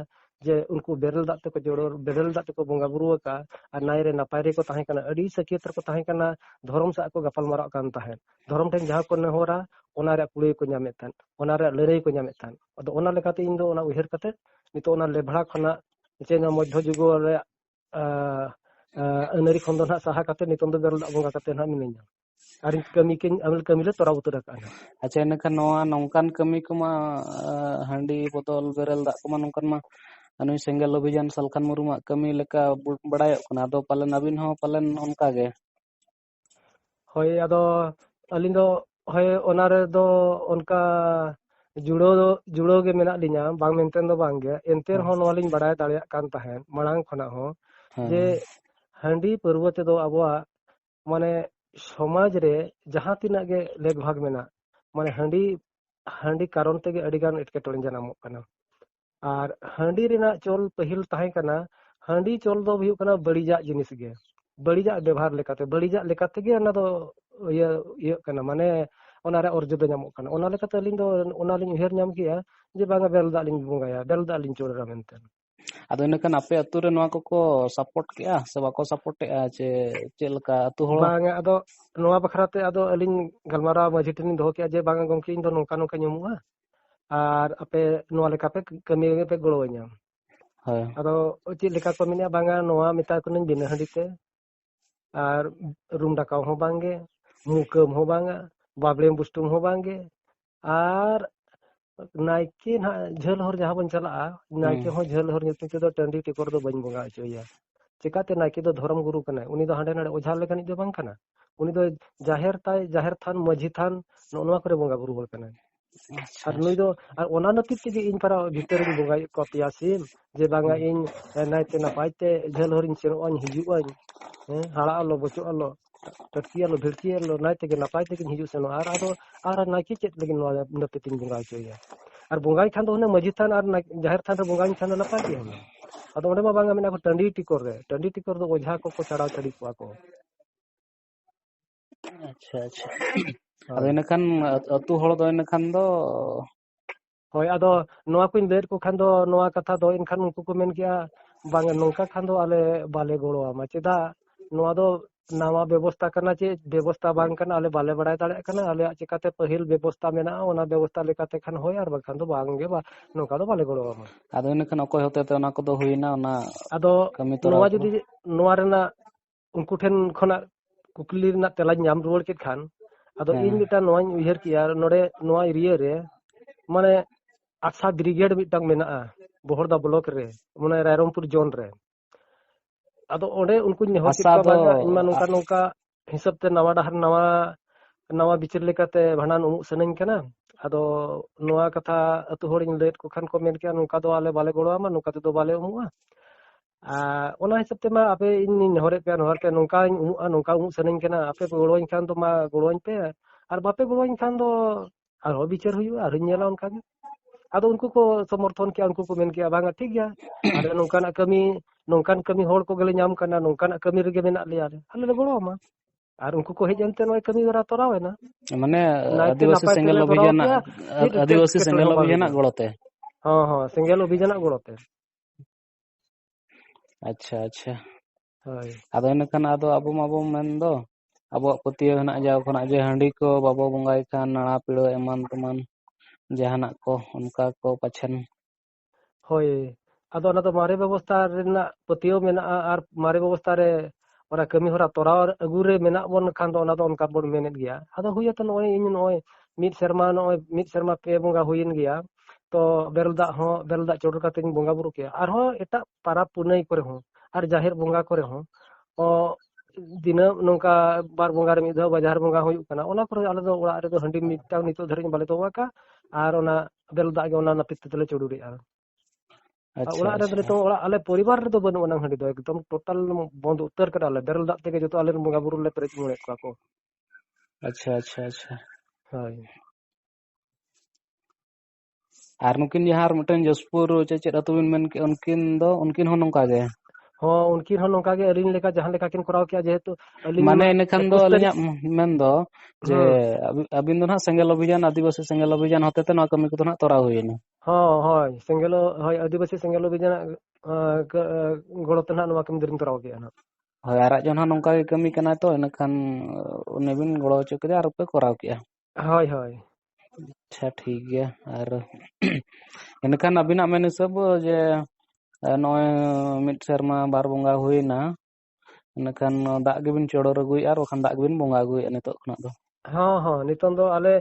ᱡᱮ ᱩᱱᱠᱩ ᱵᱮᱨᱮᱞ ᱫᱟᱜ ᱛᱮᱠᱚ ᱡᱚᱲᱚ ᱵᱮᱨᱮᱞ ᱫᱟᱜ ᱛᱮᱠᱚ ᱵᱚᱸᱜᱟ ᱵᱩᱨᱩ ᱟᱠᱟᱫ ᱟᱨ ᱱᱟᱭ ᱨᱮ ᱱᱟᱯᱟᱭ ᱨᱮᱠᱚ ᱛᱟᱦᱮᱸ ᱠᱟᱱᱟ ᱟᱹᱰᱤ ᱥᱟᱹᱠᱷᱤᱭᱟᱹᱛ ᱨᱮᱠᱚ ᱛᱟᱦᱮᱸ ᱠᱟᱱᱟ ᱫᱷᱚᱨᱚᱢ ᱥᱟᱜ ᱠᱚ ᱜᱟᱯᱟᱞ ᱢᱟᱨᱟᱜ ᱠᱟᱱ ᱛᱟᱦᱮᱸᱫ ᱫᱷᱚᱨᱚᱢ ᱴᱷᱮᱱ ᱡᱟᱦᱟᱸ ᱠᱚ ᱱᱮᱦᱚᱨᱟ ᱚᱱᱟ ᱨᱮᱭᱟᱜ ᱠᱩᱲᱟᱹᱭ ᱠᱚ ᱧᱟᱢᱮᱫ ᱛᱟᱦᱮᱸᱫ ᱚᱱᱟ ᱨᱮᱭᱟᱜ ᱞᱟᱹᱲᱟᱹᱭ ᱠᱚ ᱧᱟᱢᱮᱫ ᱛᱟᱦᱮᱸᱫ ᱟᱫᱚ ᱚᱱᱟ ᱞᱮᱠᱟᱛᱮ ᱤᱧ ᱫᱚ ᱚᱱᱟ ᱩᱭᱦᱟᱹᱨ ᱠᱟᱛᱮ ᱱᱤᱛᱚᱜ ᱚᱱᱟ ᱞᱮᱵᱷᱲᱟ ᱠᱷᱚᱱᱟᱜ ᱥᱮ ᱱᱚᱣᱟ ᱢᱚᱫᱽᱫᱷᱚ ᱡᱩᱜᱽ ᱨᱮᱭᱟᱜ ᱟᱹᱱᱟᱹᱨᱤ ᱠᱷᱚᱱ ᱫᱚ ᱱᱟᱦᱟᱜ ᱥᱟᱦᱟ ᱠᱟᱛᱮ ᱱᱤᱛᱚᱝ ᱫᱚ ᱵᱮᱨᱮᱞ ᱫᱟᱜ ᱵᱚᱸᱜᱟ ᱠᱟᱛᱮ ᱱᱟᱦᱟᱜ ᱢᱤᱱᱟᱹᱧᱟ ᱟᱨ ᱠᱟᱹᱢᱤ ᱠᱟᱹᱧ ᱟᱢᱮᱞ ᱠᱟᱹᱢᱤ ᱞᱮ ᱛᱚᱨᱟᱣ ᱩᱛᱟᱹᱨ ᱟᱠᱟᱫᱼᱟ ᱱᱟᱦᱟᱜ ᱟᱪᱪᱷᱟ ᱤᱱᱟᱹᱠᱷᱟᱱ ᱱᱚᱣᱟ ᱱᱚᱝᱠᱟᱱ ᱠᱟᱹᱢᱤ ᱠᱚᱢᱟ ᱦᱟᱺᱰᱤ ᱵᱚᱫᱚᱞ ᱵᱮᱨᱮᱞ ᱫᱟᱜ ᱠᱚᱢᱟ ᱱᱚᱝᱠᱟᱱ ᱢᱟ ᱱᱩᱭ ᱥᱮᱸᱜᱮᱞ ᱚᱵᱷᱤᱡᱟᱱ ᱥᱟᱞᱠᱷᱟᱱ ᱢᱩᱨᱢᱩᱣᱟᱜ ᱠᱟᱹᱢᱤ ᱞᱮᱠᱟ ᱵᱟᱲᱟᱭᱚᱜ ᱠᱟᱱᱟ ᱟᱫᱚ ᱯᱟᱞᱮᱱ ᱟᱹᱵᱤᱱ ᱦᱚᱸ ᱯᱟᱞᱮᱱ ᱚᱱᱠᱟ ᱜᱮ ᱦᱳᱭ ᱟᱫᱚ ᱟᱹᱞᱤᱧ ᱫᱚ ᱦᱳᱭ ᱚᱱᱟ ᱨᱮᱫᱚ ᱚᱱᱠᱟ ᱡᱩᱲᱟᱹᱣ ᱫᱚ ᱡᱩᱲᱟᱹᱣ ᱜᱮ ᱢᱮᱱᱟᱜ ᱞᱤᱧᱟ ᱵᱟᱝ ᱢᱮᱱᱛᱮ ᱫᱚ ᱵᱟᱝ ᱜᱮ ᱮᱱᱛᱮ ᱨᱮᱦᱚᱸ ᱱᱚᱣᱟ ᱞᱤᱧ ᱵᱟᱲᱟᱭ ᱫᱟᱲᱮᱭᱟᱜ ᱠᱟᱱ ᱛᱟᱦᱮᱸᱫ ᱢᱟᱲᱟᱝ ᱠᱷᱚᱱᱟᱜ ᱦᱚᱸ ᱡᱮ ᱦᱟᱺᱰᱤ ᱯᱟᱹᱨᱣᱟᱹ ᱛᱮᱫᱚ ᱟᱵᱚᱣᱟᱜ ᱢᱟᱱᱮ ᱥᱚᱢᱟᱡᱽ ᱨᱮ ᱡᱟᱦᱟᱸ ᱛᱤᱱᱟᱹᱜ ᱜᱮ ᱞᱮᱠ ᱵᱷᱟᱜᱽ ᱢᱮᱱᱟᱜ ᱢᱟᱱᱮ ᱦᱟᱺᱰᱤ ᱦᱟᱺᱰᱤ ᱠᱟᱨᱚᱱ ᱛᱮᱜᱮ ᱟᱹᱰᱤ ᱜᱟᱱ ᱮᱴᱠᱮᱴᱚᱬᱮ ᱡᱟᱱᱟᱢᱚᱜ ᱠᱟᱱᱟ ᱟᱨ ᱦᱟᱺᱰᱤ ᱨᱮᱱᱟᱜ ᱪᱚᱞ ᱯᱟᱹᱦᱤᱞ ᱛᱟᱦᱮᱸ ᱠᱟᱱᱟ ᱦᱟᱺᱰᱤ ᱪᱚᱞ ᱫᱚ ᱦᱩᱭᱩᱜ ᱠᱟᱱᱟ ᱵᱟᱹᱲᱤᱡᱟᱜ ᱡᱤᱱᱤᱥ ᱜᱮ ᱵᱟᱹᱲᱤᱡᱟᱜ ᱵᱮᱵᱚᱦᱟᱨ ᱞᱮᱠᱟᱛᱮ ᱵᱟᱹᱲᱤᱡᱟᱜ ᱞᱮᱠᱟ ᱛᱮᱜᱮ ᱚᱱᱟ ᱫᱚ ᱤᱭᱟᱹ ᱤᱭᱟᱹᱜ ᱠᱟᱱᱟ ᱢᱟᱱᱮ ᱚᱱᱟᱨᱮ ᱚᱨᱡᱚ ᱫᱚ ᱧᱟᱢᱚᱜ ᱠᱟᱱᱟ ᱚᱱᱟ ᱞᱮᱠᱟᱛᱮ ᱟᱹᱞᱤᱧ ᱫᱚ ᱚᱱᱟᱞᱤᱧ ᱩᱭᱦᱟᱹᱨ ᱧᱟᱢ ᱠᱮᱜᱼᱟ ᱡᱮ ᱵᱟᱝᱟ ᱵᱮᱞ ᱫᱟᱜ ᱞᱤᱧ ᱵᱚᱸᱜᱟᱭᱟ ᱵᱮᱞ ᱫᱟᱜ ᱞᱤᱧ ᱪᱚᱰᱚᱨᱟ ᱢᱮᱱᱛᱮ ᱟᱫᱚ ᱤᱱᱟᱹᱠᱷᱟᱱ ᱟᱯᱮ ᱟᱹᱛᱩ ᱨᱮ ᱱᱚᱣᱟ ᱠᱚᱠᱚ ᱥᱟᱯᱳᱨᱴ ᱠᱮᱜᱼᱟ ᱥᱮ ᱵᱟᱠᱚ ᱥᱟᱯᱳᱨᱴ ᱮᱜᱼᱟ ᱡᱮ ᱪᱮᱫ ᱞᱮᱠᱟ ᱟᱹᱛᱩ ᱦᱚᱲ ᱵᱟᱝᱟ ᱟᱫᱚ ᱱᱚᱣᱟ ᱵᱟᱠᱷᱨᱟᱛᱮ ᱟᱫᱚ ᱟᱹᱞᱤᱧ ᱜᱟᱞᱢᱟᱨᱟᱣ ᱢᱟᱹᱡᱷᱤ ᱴᱷᱮᱱ ᱞᱤᱧ ᱫᱚᱦᱚ ᱠᱮᱜᱼᱟ ᱡᱮ ᱵᱟᱝᱟ ᱜᱚᱢᱠᱮ ᱤᱧ ᱫᱚ ᱱᱚᱝᱠᱟ ᱱᱚᱝᱠᱟᱧ ᱩᱢᱩᱜᱼᱟ ᱟᱨ ᱟᱯᱮ ᱱᱚᱣᱟ ᱞᱮᱠᱟ ᱯᱮ ᱠᱟᱹᱢᱤ ᱨᱮᱜᱮ ᱯᱮ ᱜᱚᱲᱚ ᱟᱹᱧᱟ ᱦᱳᱭ ᱟᱫᱚ ᱪᱮᱫ ᱞᱮᱠᱟ ᱠᱚ ᱢᱮᱱᱮᱫᱼᱟ ᱵᱟᱝᱟ ᱱᱚᱣᱟ ᱢᱮᱛᱟ ᱠᱚ ᱠᱟᱹᱱᱟᱹᱧ ᱵᱤᱱᱟᱹ ᱦᱟᱺᱰᱤ ᱛᱮ ᱟᱨ ᱨᱩᱢ ᱰᱟᱠᱟᱣ ᱦᱚᱸ ᱵᱟᱝᱜᱮ ᱢᱩᱠᱟᱹᱢ ᱦᱚᱸ ᱵᱟᱝᱟ ᱵᱟᱵᱲᱮᱢ ᱵᱩᱥᱴᱩᱢ ᱦᱚᱸ ᱵᱟᱝᱜᱮ ᱟᱨ ᱱᱟᱭᱠᱮ ᱱᱟᱜ ᱡᱷᱟᱹᱞ ᱦᱚᱨ ᱡᱟᱦᱟᱸ ᱵᱚᱱ ᱪᱟᱞᱟᱜᱼᱟ ᱱᱟᱭᱠᱮ ᱦᱚᱸ ᱡᱷᱟᱹᱞ ᱦᱚᱨ ᱧᱩᱛᱩᱢ ᱛᱮᱫᱚ ᱴᱟᱺᱰᱤ ᱴᱤᱠᱚᱨ ᱫᱚ ᱵᱟᱹᱧ ᱵᱚᱸᱜᱟ ᱦᱚᱪᱚᱭᱟ ᱪᱮᱠᱟᱛᱮ ᱱᱟᱭᱠᱮ ᱫᱚ ᱫᱷᱚᱨᱚᱢ ᱜᱩᱨᱩ ᱠᱟᱱᱟᱭ ᱩᱱᱤ ᱫᱚ ᱦᱟᱸᱰᱮ ᱱᱟᱰᱮ ᱚᱡᱷᱟ ᱞᱮᱠᱟᱱᱤᱡ ᱫᱚ ᱵᱟᱝ ᱠᱟᱱᱟ ᱩᱱᱤ ᱫᱚ ᱡᱟᱦᱮᱨ ᱛᱟᱭ ᱡᱟᱦᱮᱨ ᱛᱷᱟᱱ ᱢᱟᱹᱡᱷᱤ ᱛᱷᱟᱱ ᱱᱚᱜᱼᱚ ᱱᱚᱣᱟ ᱠᱚᱨᱮ ᱵᱚᱸᱜᱟ ᱵᱩᱨᱩ ᱦᱚᱲ ᱠᱟᱱᱟᱭ ᱟᱪᱪᱷᱟ ᱟᱨ ᱱᱩᱭ ᱫᱚ ᱟᱨ ᱚᱱᱟ ᱠᱷᱟᱹᱛᱤᱨ ᱛᱮᱜᱮ ᱤᱧ ᱯᱟᱨᱟ ᱵᱷᱤᱛᱟᱹᱨ ᱨᱤᱧ ᱵᱚᱸᱜᱟᱭᱮᱫ ᱠᱚᱣᱟ ᱯᱮᱭᱟ ᱥᱤᱢ ᱡᱮ ᱵᱟᱝᱟ ᱤᱧ ᱱᱟᱭᱛᱮ ᱱᱟᱯᱟᱭ ᱛᱮ ᱡᱷᱟᱹᱞ ᱦᱚᱨᱤᱧ ᱥᱮᱱᱚᱜ ᱟᱹᱧ ᱦᱤᱡᱩᱜ ᱟᱹᱧ ᱦᱮᱸ ᱦᱟᱲᱟᱜ ᱟᱞᱚ ᱵᱚᱪᱚᱜ ᱟᱞᱚ ᱴᱟᱴᱠᱤ ᱟᱞᱚ ᱵᱷᱤᱲᱠᱤ ᱟᱞᱚ ᱱᱟᱭ ᱛᱮᱜᱮ ᱱᱟᱯᱟᱭ ᱛᱮᱜᱮᱧ ᱦᱤᱡᱩᱜ ᱥᱮᱱᱚᱜᱼᱟ ᱟᱨ ᱟᱫᱚ ᱟᱨ ᱱᱟᱭᱠᱮ ᱪᱮᱫ ᱞᱟᱹᱜᱤᱫ ᱱᱚᱣᱟ ᱱᱟᱹᱯᱤ ᱛᱤᱧ ᱵᱚᱸᱜᱟ ᱦᱚᱪᱚᱭᱟ ᱟᱨ ᱵᱚᱸᱜᱟᱭ ᱠᱷᱟᱱ ᱫᱚ ᱦᱩᱱᱟᱹᱝ ᱢᱟᱹᱡᱷᱤ ᱛᱷᱟᱱ ᱟᱨ ᱱᱟᱭ- ᱡᱟᱦᱮᱨ ᱛᱷᱟᱱ ᱨᱮ ᱵᱚᱸᱜᱟᱧ ᱠᱷᱟᱱ ᱫᱚ ᱱᱟᱯᱟᱭ ᱜᱮ ᱦᱩᱱᱟᱹᱝ ᱟᱫᱚ ᱚᱸᱰᱮ ᱢᱟ ᱵᱟᱝᱟ ᱢᱮᱱᱟᱜ ᱠᱚ ᱴᱟᱺᱰᱤ ᱴᱤᱠᱚᱨ ᱨᱮ ᱴᱟᱺᱰᱤ ᱴᱤᱠᱚᱨ ᱫᱚ ᱚᱡᱷᱟ ᱠᱚᱠᱚ ᱪᱟᱲᱟᱣ ᱪᱟᱹᱰᱤ ᱠᱚᱣᱟ ᱠᱚ ᱟᱪᱪᱷᱟ ᱟᱪᱪᱷᱟ ᱟᱫᱚ ᱦᱳᱭ ᱤᱱᱟᱹᱠᱷᱟᱱ ᱟᱹᱛᱩ ᱦᱚᱲ ᱫᱚ ᱤᱱᱟᱹᱠᱷᱟᱱ ᱫᱚ ᱦᱳᱭ ᱟᱫᱚ ᱱᱚᱣᱟ ᱠᱚᱧ ᱞᱟᱹᱭᱟᱫ ᱠᱚ ᱠᱷᱟᱱ ᱫᱚ ᱱᱚᱣᱟ ᱠᱟᱛᱷᱟ ᱫᱚ ᱮᱱᱠᱷᱟᱱ ᱩᱱᱠᱩ ᱠᱚ ᱢᱮᱱ ᱠᱮᱜᱼᱟ ᱵᱟᱝᱟ ᱱᱚᱝᱠᱟ ᱠᱷᱟᱱ ᱫᱚ ᱟᱞᱮ ᱵᱟᱞᱮ ᱜᱚᱲᱚ ᱟᱢᱟ ᱪᱮᱫᱟᱜ ᱱᱚᱣᱟ ᱫᱚ ᱱᱟᱣᱟ ᱵᱮᱵᱚᱥᱛᱟ ᱠᱟᱱᱟ ᱪᱮ ᱵᱮᱵᱚᱥᱛᱟ ᱵᱟᱝ ᱠᱟᱱᱟ ᱟᱞᱮ ᱵᱟᱞᱮ ᱵᱟᱲᱟᱭ ᱫᱟᱲᱮᱭᱟᱜ ᱠᱟᱱᱟ ᱟᱞᱮᱭᱟᱜ ᱪᱮᱠᱟᱛᱮ ᱯᱟᱹᱦᱤᱞ ᱵᱮᱵᱚᱥᱛᱟ ᱢᱮᱱᱟᱜᱼᱟ ᱚᱱᱟ ᱵᱮᱵᱚᱥᱛᱟ ᱞᱮᱠᱟᱛᱮ ᱠᱷᱟᱱ ᱦᱳᱭ ᱟᱨ ᱵᱟᱝᱠᱷᱟᱱ ᱫᱚ ᱵᱟᱝᱜᱮ ᱵᱟ ᱱᱚᱝᱠᱟ ᱫᱚ ᱵᱟᱞᱮ ᱜᱚᱲᱚ ᱟᱢᱟ ᱟᱫᱚ ᱤᱱᱟᱹᱠᱷᱟᱱ ᱚᱠᱚᱭ ᱦᱚᱛᱮᱛᱮ ᱚᱱᱟ ᱠᱚᱫᱚ ᱦᱩᱭᱱᱟ ᱚᱱᱟ ᱟᱫᱚ ᱠᱟᱹᱢᱤ ᱛᱚᱨᱟᱣ ᱱᱚᱣᱟ ᱠᱚᱫᱚ ᱡᱩᱫᱤ ᱱᱚᱣᱟ ᱨᱮᱱᱟᱜ ᱩᱱᱠᱩ ᱴᱷᱮᱱ ᱠᱷᱚᱱᱟᱜ ᱠᱩᱠᱞᱤ ᱨᱮᱱᱟᱜ ᱛᱮᱞᱟᱧ ᱧᱟᱢ ᱨᱩᱣᱟᱹᱲ ᱠᱮᱫ ᱠᱷᱟᱱ ᱟᱫᱚ ᱤᱧ ᱢᱤᱫᱴᱟᱝ ᱱᱚᱣᱟᱧ ᱩᱭᱦᱟᱹᱨ ᱠᱮᱜᱼᱟ ᱱᱚᱰᱮ ᱱᱚᱣᱟ ᱮᱨᱤᱭᱟ ᱨᱮ ᱢᱟᱱᱮ ᱟᱥᱟ ᱵᱨᱤᱜᱮᱰ ᱢᱤᱫᱴᱟᱝ ᱢᱮᱱᱟᱜᱼᱟ ᱵᱚᱦᱚᱲᱫᱟ ᱵᱞᱚᱠ ᱨᱮ ᱢᱟᱱᱮ ᱨᱟᱭᱨᱚᱝᱯᱩᱨ ᱡᱳᱱ ᱨᱮ ᱟᱫᱚ ᱚᱸᱰᱮ ᱩᱱᱠᱩᱧ ᱱᱮᱦᱚᱨ ᱠᱮᱫ ᱠᱚᱣᱟ ᱵᱟᱝᱟ ᱤᱧ ᱢᱟ ᱱᱚᱝᱠᱟ ᱱᱚᱝᱠᱟ ᱦᱤᱥᱟᱹᱵ ᱛᱮ ᱱᱟᱣᱟ ᱰᱟᱦᱟᱨ ᱱᱟᱣᱟ ᱱᱟᱣᱟ ᱵᱤᱪᱟᱹᱨ ᱞᱮᱠᱟᱛᱮ ᱵᱷᱟᱸᱰᱟᱱ ᱩᱢᱩᱜ ᱥᱟᱱᱟᱧ ᱠᱟᱱᱟ ᱟᱫᱚ ᱱᱚᱣᱟ ᱠᱟᱛᱷᱟ ᱟᱹᱛᱩ ᱦᱚᱲᱤᱧ ᱞᱟᱹᱭᱮᱫ ᱠᱚ ᱠᱷᱟᱱ ᱠᱚ ᱢᱮᱱ ᱠᱮᱜᱼᱟ ᱱᱚᱝᱠᱟ ᱫᱚ ᱟᱞᱮ ᱵᱟᱞᱮ ᱜᱚᱲᱚᱣᱟᱢᱟ ᱱᱚᱝᱠᱟ ᱛᱮᱫᱚ ᱵᱟᱞᱮ ᱩᱢᱩᱜᱼᱟ ᱟᱨ ᱚᱱᱟ ᱦᱤᱥᱟᱹᱵ ᱛᱮ ᱢᱟ ᱟᱯᱮ ᱤᱧ ᱱᱮᱦᱚᱨᱮᱫ ᱯᱮᱭᱟ ᱱᱚᱣᱟ ᱯᱮ ᱱᱚᱝᱠᱟᱧ ᱩᱢᱩᱜᱼᱟ ᱱᱚᱝᱠᱟ ᱩᱢᱩᱜ ᱥᱟᱱᱟᱧ ᱠᱟᱱᱟ ᱟᱯᱮ ᱯᱮ ᱜᱚᱲᱚᱣᱟᱹᱧ ᱠᱷᱟᱱ ᱫᱚ ᱢᱟ ᱜᱚᱲᱚᱣᱟᱹᱧ ᱯᱮ ᱟᱨ ᱵᱟᱯᱮ ᱜᱚᱲᱚᱣᱟᱹᱧ ᱠᱷᱟᱱ ᱫᱚ ᱟᱨᱦᱚᱸ ᱵᱤᱪᱟᱹᱨ ᱦᱩᱭᱩᱜᱼᱟ ᱟᱨᱦᱚᱸᱧ ᱧᱮᱞᱟ ᱚᱱᱠᱟ ᱜᱮ ᱟᱫᱚ ᱩᱱᱠᱩ ᱠᱚ ᱥᱚᱢᱚᱨᱛᱷᱚᱱ ᱠᱮᱜᱼᱟ ᱩᱱᱠᱩ ᱠᱚ ᱢᱮᱱ ᱠᱮᱜᱼᱟ ᱵᱟᱝᱟ ᱴᱷᱤᱠ ᱜᱮᱭᱟ ᱟᱞᱮ ᱱᱚᱝᱠᱟᱱᱟᱜ ᱠᱟᱹᱢᱤ ᱱᱚᱝᱠᱟᱱ ᱠᱟᱹᱢᱤ ᱦᱚᱲ ᱠᱚᱜᱮᱞᱮ ᱧᱟᱢ ᱠᱟᱱᱟ ᱱᱚᱝᱠᱟᱱᱟᱜ ᱠᱟᱹᱢᱤ ᱨᱮᱜᱮ ᱢᱮᱱᱟᱜ ᱞᱮᱭᱟ ᱟᱞᱮ ᱟᱞᱮ ᱞᱮ ᱜᱚᱲᱚᱣᱟᱢᱟ ᱟᱨ ᱩᱱᱠᱩ ᱠᱚ ᱦᱮᱡ ᱮᱱᱛᱮ ᱱᱚᱜᱼᱚᱭ ᱠᱟᱹᱢᱤ ᱦᱚᱨᱟ ᱛᱚᱨᱟᱣ ᱮᱱᱟ ᱢᱟᱱᱮ ᱱᱟᱭᱛᱮ ᱟᱹᱫᱤᱵᱟᱹᱥᱤ ᱱᱟᱯᱟᱭ ᱥᱮᱸᱜᱮᱞ ᱛᱮᱞᱮ ᱫᱷᱚᱨᱟᱣ ᱚᱵᱷᱤᱡᱟᱱᱟᱜ ᱠᱮᱜᱼᱟ ᱪᱮᱫ ᱟᱹᱫᱤᱵᱟᱹᱥᱤ ᱮᱴᱠᱮᱴᱚᱬᱮ ᱥᱮᱸᱜᱮᱞ ᱦᱚᱸ ᱵᱟᱝ ᱚᱵᱷᱤᱡᱟᱱᱟᱜ ᱦᱩᱭᱩᱜᱼᱟ ᱜᱚᱲᱚᱛᱮ ᱦᱚᱸ ᱦᱚᱸ ᱥᱮᱸᱜᱮᱞ ᱚᱵᱷᱤᱡᱟᱱᱟᱜ ᱜᱚᱲᱚᱛᱮ ᱟᱪᱪᱷᱟ ᱟᱪᱪᱷᱟ ᱦᱳᱭ ᱟᱫᱚ ᱤᱱᱟᱹ ᱠᱷᱟᱱ ᱟᱫᱚ ᱟᱵᱚ ᱢᱟᱵᱚ ᱢᱮᱱ ᱫᱚ ᱟᱵᱚᱣᱟᱜ ᱯᱟᱹᱛᱭᱟᱹᱣ ᱦᱮᱱᱟᱜ-ᱟ ᱡᱟᱣ ᱠᱷᱚᱱᱟᱜ ᱡᱮ ᱦᱟᱺᱰᱤ ᱠᱚ ᱵᱟᱵᱚ ᱵᱚᱸᱜᱟᱭ ᱠᱷᱟᱱ ᱱᱟᱲᱟ ᱯᱤᱲᱟᱹ ᱮᱢᱟᱱ ᱛᱮᱢᱟᱱ ᱡᱟᱦᱟᱱᱟᱜ ᱠᱚ ᱚᱱᱠᱟ ᱠᱚ ᱯᱟᱪᱷᱮᱱ ᱦᱳᱭ ᱟᱫᱚ ᱚᱱᱟ ᱫᱚ ᱢᱟᱨᱮ ᱵᱮᱵᱚᱥᱛᱟ ᱨᱮᱱᱟᱜ ᱯᱟᱹᱛᱭᱟᱹᱣ ᱢᱮᱱᱟᱜᱼᱟ ᱟᱨ ᱢᱟᱨᱮ ᱵᱮᱵᱚᱥᱛᱟ ᱨᱮ ᱚᱱᱟ ᱠᱟᱹᱢᱤ ᱦᱚᱨᱟ ᱛᱚᱨᱟᱣ ᱟᱹᱜᱩ ᱨᱮ ᱢᱮᱱᱟᱜ ᱵᱚᱱ ᱠᱷᱟᱱ ᱫᱚ ᱚᱱᱟ ᱫᱚ ᱚᱱᱠᱟ ᱵᱚᱱ ᱢᱮᱱᱮᱫ ᱜᱮᱭᱟ ᱟᱫᱚ ᱦᱩᱭ ᱟᱛᱚ ᱱᱚᱜᱼᱚᱭ ᱤᱧ ᱱᱚᱜᱼᱚᱭ ᱢᱤᱫ ᱥᱮᱨᱢᱟ ᱱᱚᱜᱼᱚᱭ ᱢᱤᱫ ᱥᱮᱨᱢᱟ ᱯᱮ ᱵᱚᱸᱜᱟ ᱦᱩᱭᱮᱱ ᱜᱮᱭᱟ ᱛᱚ ᱵᱮᱨᱮᱞ ᱫᱟᱜ ᱦᱚᱸ ᱵᱮᱨᱮᱞ ᱫᱟᱜ ᱪᱚᱰᱚᱨ ᱠᱟᱛᱮ ᱤᱧ ᱵᱚᱸᱜᱟ ᱵᱩᱨᱩ ᱠᱮᱭᱟ ᱟᱨᱦᱚᱸ ᱮᱴᱟᱜ ᱯᱟᱨᱟᱵᱽ ᱯᱩᱱᱟᱹᱭ ᱠᱚᱨᱮ ᱦᱚᱸ ᱟᱨ ᱡᱟᱦᱮᱨ ᱵᱚᱸᱜᱟ ᱠᱚᱨᱮ ᱦᱚᱸ ᱫᱤᱱᱟᱹᱢ ᱱᱚᱝᱠᱟ ᱵᱟᱨ ᱵᱚᱸᱜᱟ ᱨᱮ ᱢᱤᱫ ᱫᱷᱟᱣ ᱵᱟᱡᱟᱨ ᱵᱚᱸᱜᱟ ᱦᱩᱭᱩᱜ ᱠᱟᱱᱟ ᱚᱱᱟ ᱠᱚᱨᱮ ᱟᱞᱮ ᱫᱚ ᱚᱲᱟᱜ ᱨᱮᱫᱚ ᱦᱟᱺᱰᱤ ᱢᱤᱫᱴᱟᱝ ᱱᱤᱛᱚᱜ ᱫᱷᱟᱹᱨᱤᱡ ᱵᱟᱞᱮ ᱫᱚᱦᱚ ᱟᱠᱟᱫᱼᱟ ᱟᱨ ᱚᱱᱟ ᱵᱮᱨᱮᱞ ᱫᱟᱜ ᱜᱮ ᱚᱱᱟ ᱱᱟᱹᱯᱤᱛ ᱛᱮᱞᱮ ᱪᱩᱰᱩᱨᱮᱜᱼᱟ ᱟᱪᱪᱷᱟ ᱚᱲᱟᱜ ᱨᱮᱫᱚ ᱟᱪᱪᱷᱟ ᱱᱤᱛᱚᱜ ᱚᱲᱟᱜ ᱟᱞᱮ ᱯᱚᱨᱤᱵᱟᱨ ᱨᱮᱫᱚ ᱵᱟᱹᱱᱩᱜ ᱟᱱᱟᱝ ᱦᱟᱺᱰᱤ ᱫᱚ ᱮᱠᱫᱚᱢ ᱴᱳᱴᱟᱞ ᱵᱚᱱᱫ ᱩᱛᱟᱹᱨ ᱠᱟᱫᱟᱞᱮ ᱵᱮᱨᱮᱞ ᱫᱟᱜ ᱛᱮᱜᱮ ᱡᱚᱛᱚ ᱟᱞᱮᱨᱮᱱ ᱵᱚᱸᱜᱟ ᱵᱩᱨᱩ ᱞᱮ ᱯᱮᱨᱮᱡ ᱢᱚᱬᱮᱫ ᱠᱚᱣᱟ ᱠᱚ ᱟᱪᱪᱷᱟ ᱟᱪᱪᱷᱟ ᱟᱪᱪᱷᱟ ᱦᱳᱭ ᱟᱨ ᱱᱩᱠᱤᱱ ᱡᱟᱦᱟᱸ ᱟᱨ ᱢᱤᱫᱴᱮᱱ ᱡᱚᱥᱯᱩᱨ ᱪᱮᱫ ᱪᱮᱫ ᱟᱛᱩ ᱵᱤᱱ ᱢᱮᱱ ᱠᱮᱫ ᱩᱱᱠᱤᱱ ᱫᱚ ᱩᱱᱠᱤᱱ ᱦᱚᱸ ᱱᱚᱝᱠᱟ ᱜᱮ ᱦᱚᱸ ᱩᱱᱠᱤᱱ ᱦᱚᱸ ᱱᱚᱝᱠᱟ ᱜᱮ ᱟᱹᱞᱤᱧ ᱞᱮᱠᱟ ᱡᱟᱦᱟᱸ ᱞᱮᱠᱟ ᱠᱤᱱ ᱠᱚᱨᱟᱣ ᱠᱮᱫᱼᱟ ᱡᱮᱦᱮᱛᱩ ᱟᱹᱞᱤᱧ ᱢᱟᱱᱮ ᱤᱱᱟᱹᱠᱷᱟᱱ ᱫᱚ ᱮᱠᱩᱥ ᱛᱟᱹᱨᱤᱠᱷ ᱟᱹᱞᱤᱧᱟᱜ ᱢᱮᱱ ᱫᱚ ᱡᱮ ᱦᱩᱸ ᱟᱹᱵᱤᱱ ᱫᱚ ᱱᱟᱜ ᱥᱮᱸᱜᱮᱞ ᱚᱵᱷᱤᱡᱟᱱ ᱟᱹᱫᱤᱵᱟᱹᱥᱤ ᱥᱮᱸᱜᱮᱞ ᱚᱵᱷᱤᱡᱟᱱ ᱦᱚᱛᱮᱛᱮ ᱱᱚᱣᱟ ᱠᱟᱹᱢᱤ ᱠᱚᱫᱚ ᱱᱟᱜ ᱛᱚᱨᱟᱣ ᱦᱩᱭᱱᱟ ᱦᱚᱸ ᱦᱳᱭ ᱥᱮᱸᱜᱮᱞ ᱦᱳᱭ ᱟᱹᱫᱤᱵᱟᱹᱥᱤ ᱥᱮᱸᱜᱮᱞ ᱚᱵᱷᱤᱡᱟᱱ ᱜᱚᱲᱚ ᱛᱮ ᱱᱟᱜ ᱱᱚᱣᱟ ᱠᱟᱹᱢᱤ ᱫᱚᱞᱤᱧ ᱛᱚᱨᱟᱣ ᱠᱮᱫᱼᱟ ᱱᱟᱜ ᱦᱳᱭ ᱟᱨ ᱟᱡ ᱦᱚᱸ ᱱᱟᱦᱟᱜ ᱱᱚᱝᱠᱟ ᱜᱮ ᱠᱟᱹᱢᱤ ᱠᱟᱱᱟ ᱛᱚ ᱤᱱᱟᱹᱠᱷᱟᱱ ᱩᱱᱤ ᱵᱤᱱ ᱜᱚᱲᱚ ᱦᱚᱪᱚ ᱠᱮᱫᱮᱭᱟ ᱟᱨᱯᱮ ᱠᱚᱨᱟᱣ ᱠᱮᱫᱼᱟ ᱦᱳᱭ ᱦᱳᱭ ᱟᱪᱪᱷᱟ ᱴᱷᱤᱠ ᱜᱮᱭᱟ ᱟᱨ ᱮᱱᱠᱷᱟᱱ ᱟᱵᱤᱱᱟᱜ ᱢᱮᱱ ᱦᱤᱥᱟᱹᱵ ᱡᱮ ᱱᱚᱜᱼᱚᱭ ᱢᱤᱫ ᱥᱮᱨᱢᱟ ᱵᱟᱨ ᱵᱚᱸᱜᱟ ᱦᱩᱭᱱᱟ ᱮᱱᱠᱷᱟᱱ ᱫᱟᱜ ᱜᱮᱵᱤᱱ ᱪᱚᱰᱚᱨ ᱟᱹᱜᱩᱭᱮᱫᱼᱟ ᱟᱨ ᱵᱟᱠᱷᱟᱱ ᱫᱟᱜ ᱜᱮᱵᱤᱱ ᱵᱚᱸᱜᱟ ᱟᱹᱜᱩᱭᱮᱫᱼᱟ ᱱᱤᱛᱚᱜ ᱠᱷᱚᱱᱟᱜ ᱫᱚ ᱦᱚᱸ ᱦᱚᱸ ᱱᱤᱛᱚᱝ ᱫᱚ ᱟᱞᱮ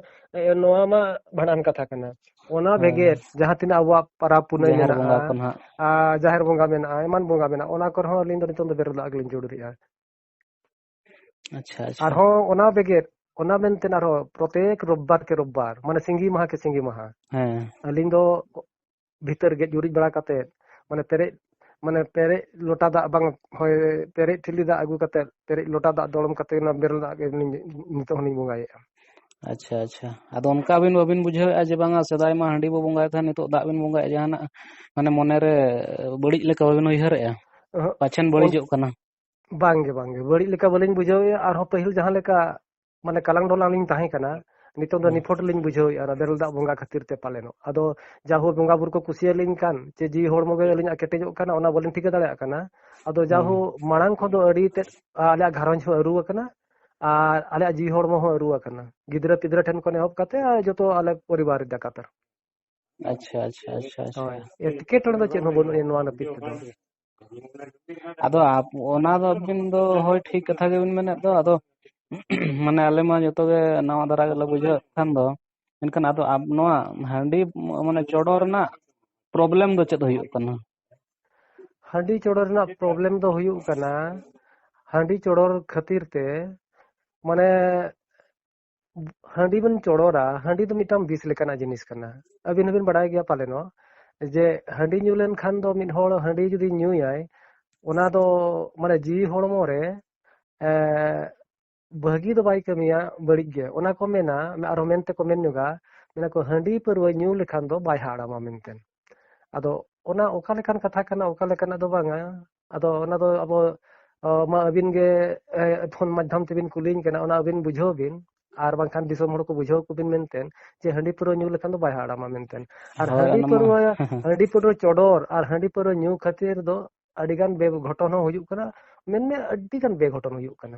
ᱱᱚᱣᱟ ᱢᱟ ᱵᱷᱟᱸᱰᱟᱱ ᱠᱟᱛᱷᱟ ᱠᱟᱱᱟ ᱚᱱᱟ ᱦᱳᱭ ᱵᱷᱮᱜᱮᱨ ᱡᱟᱦᱟᱸ ᱛᱤᱱᱟᱹᱜ ᱟᱵᱚᱣᱟᱜ ᱯᱟᱨᱟᱵᱽ ᱯᱩᱱᱟᱹᱭ ᱡᱟᱦᱮᱨ ᱢᱮᱱᱟᱜᱼᱟ ᱵᱚᱸᱜᱟ ᱠᱚ ᱱᱟᱦᱟᱜ ᱟᱨ ᱡᱟᱦᱮᱨ ᱵᱚᱸᱜᱟ ᱢᱮᱱᱟᱜᱼᱟ ᱮᱢᱟᱱ ᱵᱚᱸᱜᱟ ᱢᱮᱱᱟᱜᱼᱟ ᱚᱱᱟ ᱠᱚᱨᱮ ᱦᱚᱸ ᱟᱹᱞᱤᱧ ᱫᱚ ᱱᱤᱛᱚᱝ ᱫᱚ ᱵᱮᱨᱮᱞ ᱫᱟᱜ ᱜᱮᱞᱤᱧ ᱪᱚᱰᱚᱨᱮᱜᱼᱟ ᱟᱪᱪᱷᱟ ᱟᱪᱪᱷᱟ ᱟᱨᱦᱚᱸ ᱚᱱᱟ ᱵᱮᱜᱮᱫ ᱚᱱᱟ ᱢᱮᱱᱛᱮ ᱟᱨᱦᱚᱸ ᱯᱨᱚᱛᱮᱠ ᱨᱳᱵᱵᱟᱨ ᱠᱮ ᱨᱳᱵᱵᱟᱨ ᱢᱟᱱᱮ ᱥᱤᱸᱜᱤ ᱢᱟᱦᱟ ᱠᱮ ᱥᱤᱸᱜᱤ ᱢᱟᱦᱟ ᱦᱮᱸ ᱟᱹᱞᱤᱧ ᱫᱚ ᱵᱷᱤᱛᱟᱹᱨ ᱜᱮᱡ ᱜᱩᱨᱤᱡ ᱵᱟᱲᱟ ᱠᱟᱛᱮᱫ ᱢᱟᱱᱮ ᱯᱮᱨᱮᱡ ᱢᱟᱱᱮ ᱯᱮᱨᱮᱡ ᱞᱚᱴᱟ ᱫᱟᱜ ᱵᱟᱝ ᱦᱳᱭ ᱯᱮᱨᱮᱡ ᱴᱷᱤᱞᱤ ᱫᱟᱜ ᱟᱹᱜᱩ ᱠᱟᱛᱮᱫ ᱯᱮᱨᱮᱡ ᱞᱚᱴᱟ ᱫᱟᱜ ᱫᱚᱲᱚᱢ ᱠᱟᱛᱮᱫ ᱚᱱᱟ ᱵᱮᱨᱮᱞ ᱫᱟᱜ ᱜᱮ ᱟᱹᱞᱤᱧ ᱱᱤᱛᱚᱜ ᱦᱚᱸᱞᱤᱧ ᱵᱚᱸᱜᱟᱭᱮᱫᱼᱟ ᱟᱪᱪᱷᱟ ᱟᱪᱪᱷᱟ ᱟᱫᱚ ᱚᱱᱠᱟ ᱟᱹᱵᱤᱱ ᱵᱟᱹᱵᱤᱱ ᱵᱩᱡᱷᱟᱹᱣᱮᱫᱼᱟ ᱡᱮ ᱵᱟᱝᱟ ᱥᱮᱫᱟᱭ ᱢᱟ ᱦᱟᱺᱰᱤ ᱵᱚ ᱵᱚᱸᱜᱟᱭ ᱛᱟᱦᱮᱸᱫ ᱱᱤᱛᱚᱜ ᱫᱟᱜ ᱵᱤᱱ ᱵᱚᱸᱜᱟᱭᱮᱫ ᱡᱟᱦᱟᱱᱟᱜ ᱢᱟᱱᱮ ᱢᱚᱱᱮᱨᱮ ᱵᱟᱹᱲᱤᱡ ᱞᱮᱠᱟ ᱵᱟᱹᱵᱤᱱ ᱩᱭᱦᱟᱹᱨᱮᱫᱼᱟ ᱚᱦᱚᱸᱜ, ᱯᱟᱪᱷᱮᱱ ᱚᱱ- ᱵᱟᱹᱲᱤᱡᱚᱜ ᱠᱟᱱᱟ ᱵᱟᱝᱜᱮ ᱵᱟᱝᱜᱮ ᱵᱟᱹᱲᱤᱡ ᱞᱮᱠᱟ ᱵᱟᱹᱞᱤᱧ ᱵᱩᱡᱷᱟᱹᱣᱮᱫᱼᱟ ᱟᱨᱦᱚᱸ ᱯᱟᱹᱦᱤᱞ ᱡᱟᱦᱟᱸ ᱞᱮᱠᱟ ᱢᱟᱱᱮ ᱠᱟᱞᱟᱝ ᱰᱚᱞᱟᱝ ᱞᱤᱧ ᱛᱟᱦᱮᱸ ᱠᱟᱱᱟ ᱱᱤᱛᱚᱝ ᱫᱚ ᱱᱤᱯᱷᱚᱴ ᱞᱤᱧ ᱵᱩᱡᱷᱟᱹᱣᱮᱫᱼᱟ ᱚᱱᱟ ᱵᱮᱨᱮᱞ ᱫᱟᱜ ᱵᱚᱸᱜᱟ ᱠᱷᱟᱹᱛᱤᱨ ᱛᱮ ᱯᱟᱞᱮᱱᱚᱜ ᱟᱫᱚ ᱡᱟ ᱦᱳ ᱵᱚᱸᱜᱟ ᱵᱩᱨᱩ ᱠᱚ ᱠᱩᱥᱤᱭᱟᱞᱤᱧ ᱠᱟᱱ ᱪᱮ ᱡᱤᱣᱤ ᱦᱚᱲᱢᱚ ᱜᱮ ᱟᱹᱞᱤᱧᱟᱜ ᱠᱮᱴᱮᱡᱚᱜ ᱠᱟᱱᱟ ᱚᱱᱟ ᱵᱟᱹᱞᱤᱧ ᱴᱷᱤᱠᱟᱹ ᱫᱟᱲᱮᱭᱟᱜ ᱠᱟᱱᱟ ᱟᱫᱚ ᱡᱟ ᱦᱳ ᱢᱟᱲᱟᱝ ᱠᱷᱚᱱ ᱫᱚ ᱟᱹᱰᱤ ᱛᱮᱫ ᱟᱞᱮᱭᱟᱜ ᱜᱷᱟᱨᱚᱸᱡᱽ ᱦᱚᱸ ᱟᱹᱨᱩ ᱟᱠᱟᱱᱟ ᱟᱨ ᱟᱞᱮᱭᱟᱜ ᱡᱤᱣᱤ ᱦᱚᱲᱢᱚ ᱦᱚᱸ ᱟᱹᱨᱩ ᱟᱠᱟᱱᱟ ᱜᱤᱫᱽᱨᱟᱹ ᱯᱤᱫᱽᱨᱟᱹ ᱴᱷᱮᱱ ᱠᱷᱚᱱ ᱮᱦᱚᱵ ᱠᱟᱛᱮ ᱡᱚᱛᱚ ᱟᱞᱮ ᱯᱚᱨᱤᱵᱟᱨ ᱞᱮᱠᱟᱛᱮ ᱟᱪᱪᱷᱟ ᱟᱪᱪᱷᱟ ᱟᱪᱪᱷᱟ ᱟᱪᱪᱷᱟ ᱦᱳᱭ ᱮᱴᱠᱮᱴᱚᱬᱮ ᱫᱚ ᱪᱮᱫ ᱦᱚᱸ ᱵᱟᱹᱱᱩᱜ ᱟᱹᱱᱤᱡ ᱱᱚᱣᱟ ᱱᱟᱹᱯᱤᱛ ᱛᱮᱫᱚ ᱟᱫᱚ ᱟᱯ- ᱚᱱᱟ ᱫᱚ ᱟᱹᱵᱤᱱ ᱫᱚ ᱦᱳᱭ ᱴᱷᱤᱠ ᱠᱟᱛᱷᱟ ᱜᱮᱵᱤᱱ ᱢᱮᱱᱮᱫ ᱫᱚ ᱟᱫᱚ ᱢᱟᱱᱮ ᱟᱞᱮ ᱢᱟ ᱡᱚᱛᱚ ᱜᱮ ᱱᱟᱣᱟ ᱫᱷᱟᱨᱟ ᱜᱮᱞᱮ ᱵᱩᱡᱷᱟᱹᱣ ᱮᱫ ᱠᱷᱟᱱ ᱫᱚ ᱢᱮᱱᱠᱷᱟᱱ ᱟᱫᱚ ᱟᱵ ᱱᱚᱣᱟ ᱦᱟᱺᱰᱤ ᱢ- ᱢᱟᱱᱮ ᱪᱚᱰᱚᱨ ᱨᱮᱱᱟᱜ ᱯᱨᱚᱵᱞᱮᱢ ᱫᱚ ᱪᱮᱫ ᱦᱩᱭᱩᱜ ᱠᱟᱱᱟ ᱦᱟᱺᱰᱤ ᱪᱚᱰᱚᱨ ᱨᱮᱱᱟᱜ ᱯᱨᱚᱵᱞᱮᱢ ᱫᱚ ᱦᱩᱭᱩᱜ ᱠᱟᱱᱟ ᱦᱟᱺᱰᱤ ᱪᱚᱰᱚᱨ ᱠᱷᱟᱹᱛᱤᱨ ᱛᱮ ᱢᱟᱱᱮ ᱦᱟᱺᱰᱤ ᱵᱚᱱ ᱪᱚᱲᱚᱨᱟ ᱦᱟᱺᱰᱤ ᱫᱚ ᱢᱤᱫᱴᱟᱝ ᱵᱤᱥ ᱞᱮᱠᱟᱱᱟᱜ ᱡᱤᱱᱤᱥ ᱠᱟᱱᱟ ᱟᱹᱵᱤᱱ ᱦᱚᱸᱵᱤᱱ ᱵᱟᱲᱟᱭ ᱜᱮᱭᱟ ᱯᱟᱞᱮ ᱱᱚᱣᱟ ᱡᱮ ᱦᱟᱺᱰᱤ ᱧᱩ ᱞᱮᱱᱠᱷᱟᱱ ᱫᱚ ᱢᱤᱫ ᱦᱚᱲ ᱦᱟᱺᱰᱤ ᱡᱩᱫᱤ ᱧᱩᱭᱟᱭ ᱚᱱᱟ ᱫᱚ ᱢᱟᱱᱮ ᱡᱤᱣᱤ ᱦᱚᱲᱢᱚ ᱨᱮ ᱵᱷᱟᱹᱜᱤ ᱫᱚ ᱵᱟᱭ ᱠᱟᱹᱢᱤᱭᱟ ᱵᱟᱹᱲᱤᱡ ᱜᱮ ᱚᱱᱟ ᱠᱚ ᱢᱮᱱᱟ ᱟᱨᱦᱚᱸ ᱢᱮᱱᱛᱮ ᱠᱚ ᱢᱮᱱ ᱧᱚᱜᱟ ᱢᱮᱱᱟ ᱠᱚ ᱦᱟᱺᱰᱤ ᱯᱟᱹᱨᱣᱟᱹ ᱧᱩ ᱞᱮᱠᱷᱟᱱ ᱫᱚ ᱵᱟᱭ ᱦᱟᱲᱟᱢᱟ ᱢᱮᱱᱛᱮ ᱟᱫᱚ ᱚᱱᱟ ᱚᱠᱟ ᱞᱮᱠᱟᱱ ᱠᱟᱛᱷᱟ ᱠᱟᱱᱟ ᱚᱠᱟ ᱞᱮᱠᱟᱱᱟᱜ ᱫᱚ ᱵᱟᱝᱟ ᱟᱫᱚ ᱚᱱᱟ ᱫᱚ ᱟᱵᱚ ᱢᱟ ᱟᱹᱵᱤᱱ ᱜᱮ ᱯᱷᱳᱱ ᱢᱟᱫᱽᱫᱷᱚᱢ ᱛᱮᱵᱤᱱ ᱠᱩᱞᱤᱧ ᱠᱟᱱᱟ ᱚᱱᱟ ᱟᱹᱵᱤᱱ ᱵᱩᱡᱷᱟᱹᱣ ᱵᱤᱱ ᱟᱨ ᱵᱟᱝᱠᱷᱟᱱ ᱫᱤᱥᱚᱢ ᱦᱚᱲ ᱠᱚ ᱵᱩᱡᱷᱟᱹᱣ ᱠᱚᱵᱤᱱ ᱢᱮᱱᱛᱮ ᱡᱮ ᱦᱟᱺᱰᱤ ᱯᱟᱹᱣᱨᱟᱹ ᱧᱩ ᱞᱮᱠᱷᱟᱱ ᱫᱚ ᱵᱟᱭ ᱦᱟᱲᱟᱢᱟ ᱢᱮᱱᱛᱮ ᱟᱨ ᱦᱟᱺᱰᱤ ᱯᱟᱹᱣᱨᱟᱹ ᱦᱟᱺᱰᱤ ᱯᱟᱹᱣᱨᱟᱹ ᱪᱚᱰᱚᱨ ᱟᱨ ᱦᱟᱺᱰᱤ ᱯᱟᱹᱣᱨᱟᱹ ᱧᱩ ᱠᱷᱟᱹᱛᱤᱨ ᱫᱚ ᱟᱹᱰᱤᱜᱟᱱ ᱵᱮ ᱜᱷᱚᱴᱚᱱ ᱦᱚᱸ ᱦᱩᱭᱩᱜ ᱠᱟᱱᱟ ᱢᱮᱱᱢᱮ ᱟᱹᱰᱤᱜᱟᱱ ᱵᱮ ᱜᱷᱚᱴᱚᱱ ᱦᱩᱭᱩᱜ ᱠᱟᱱᱟ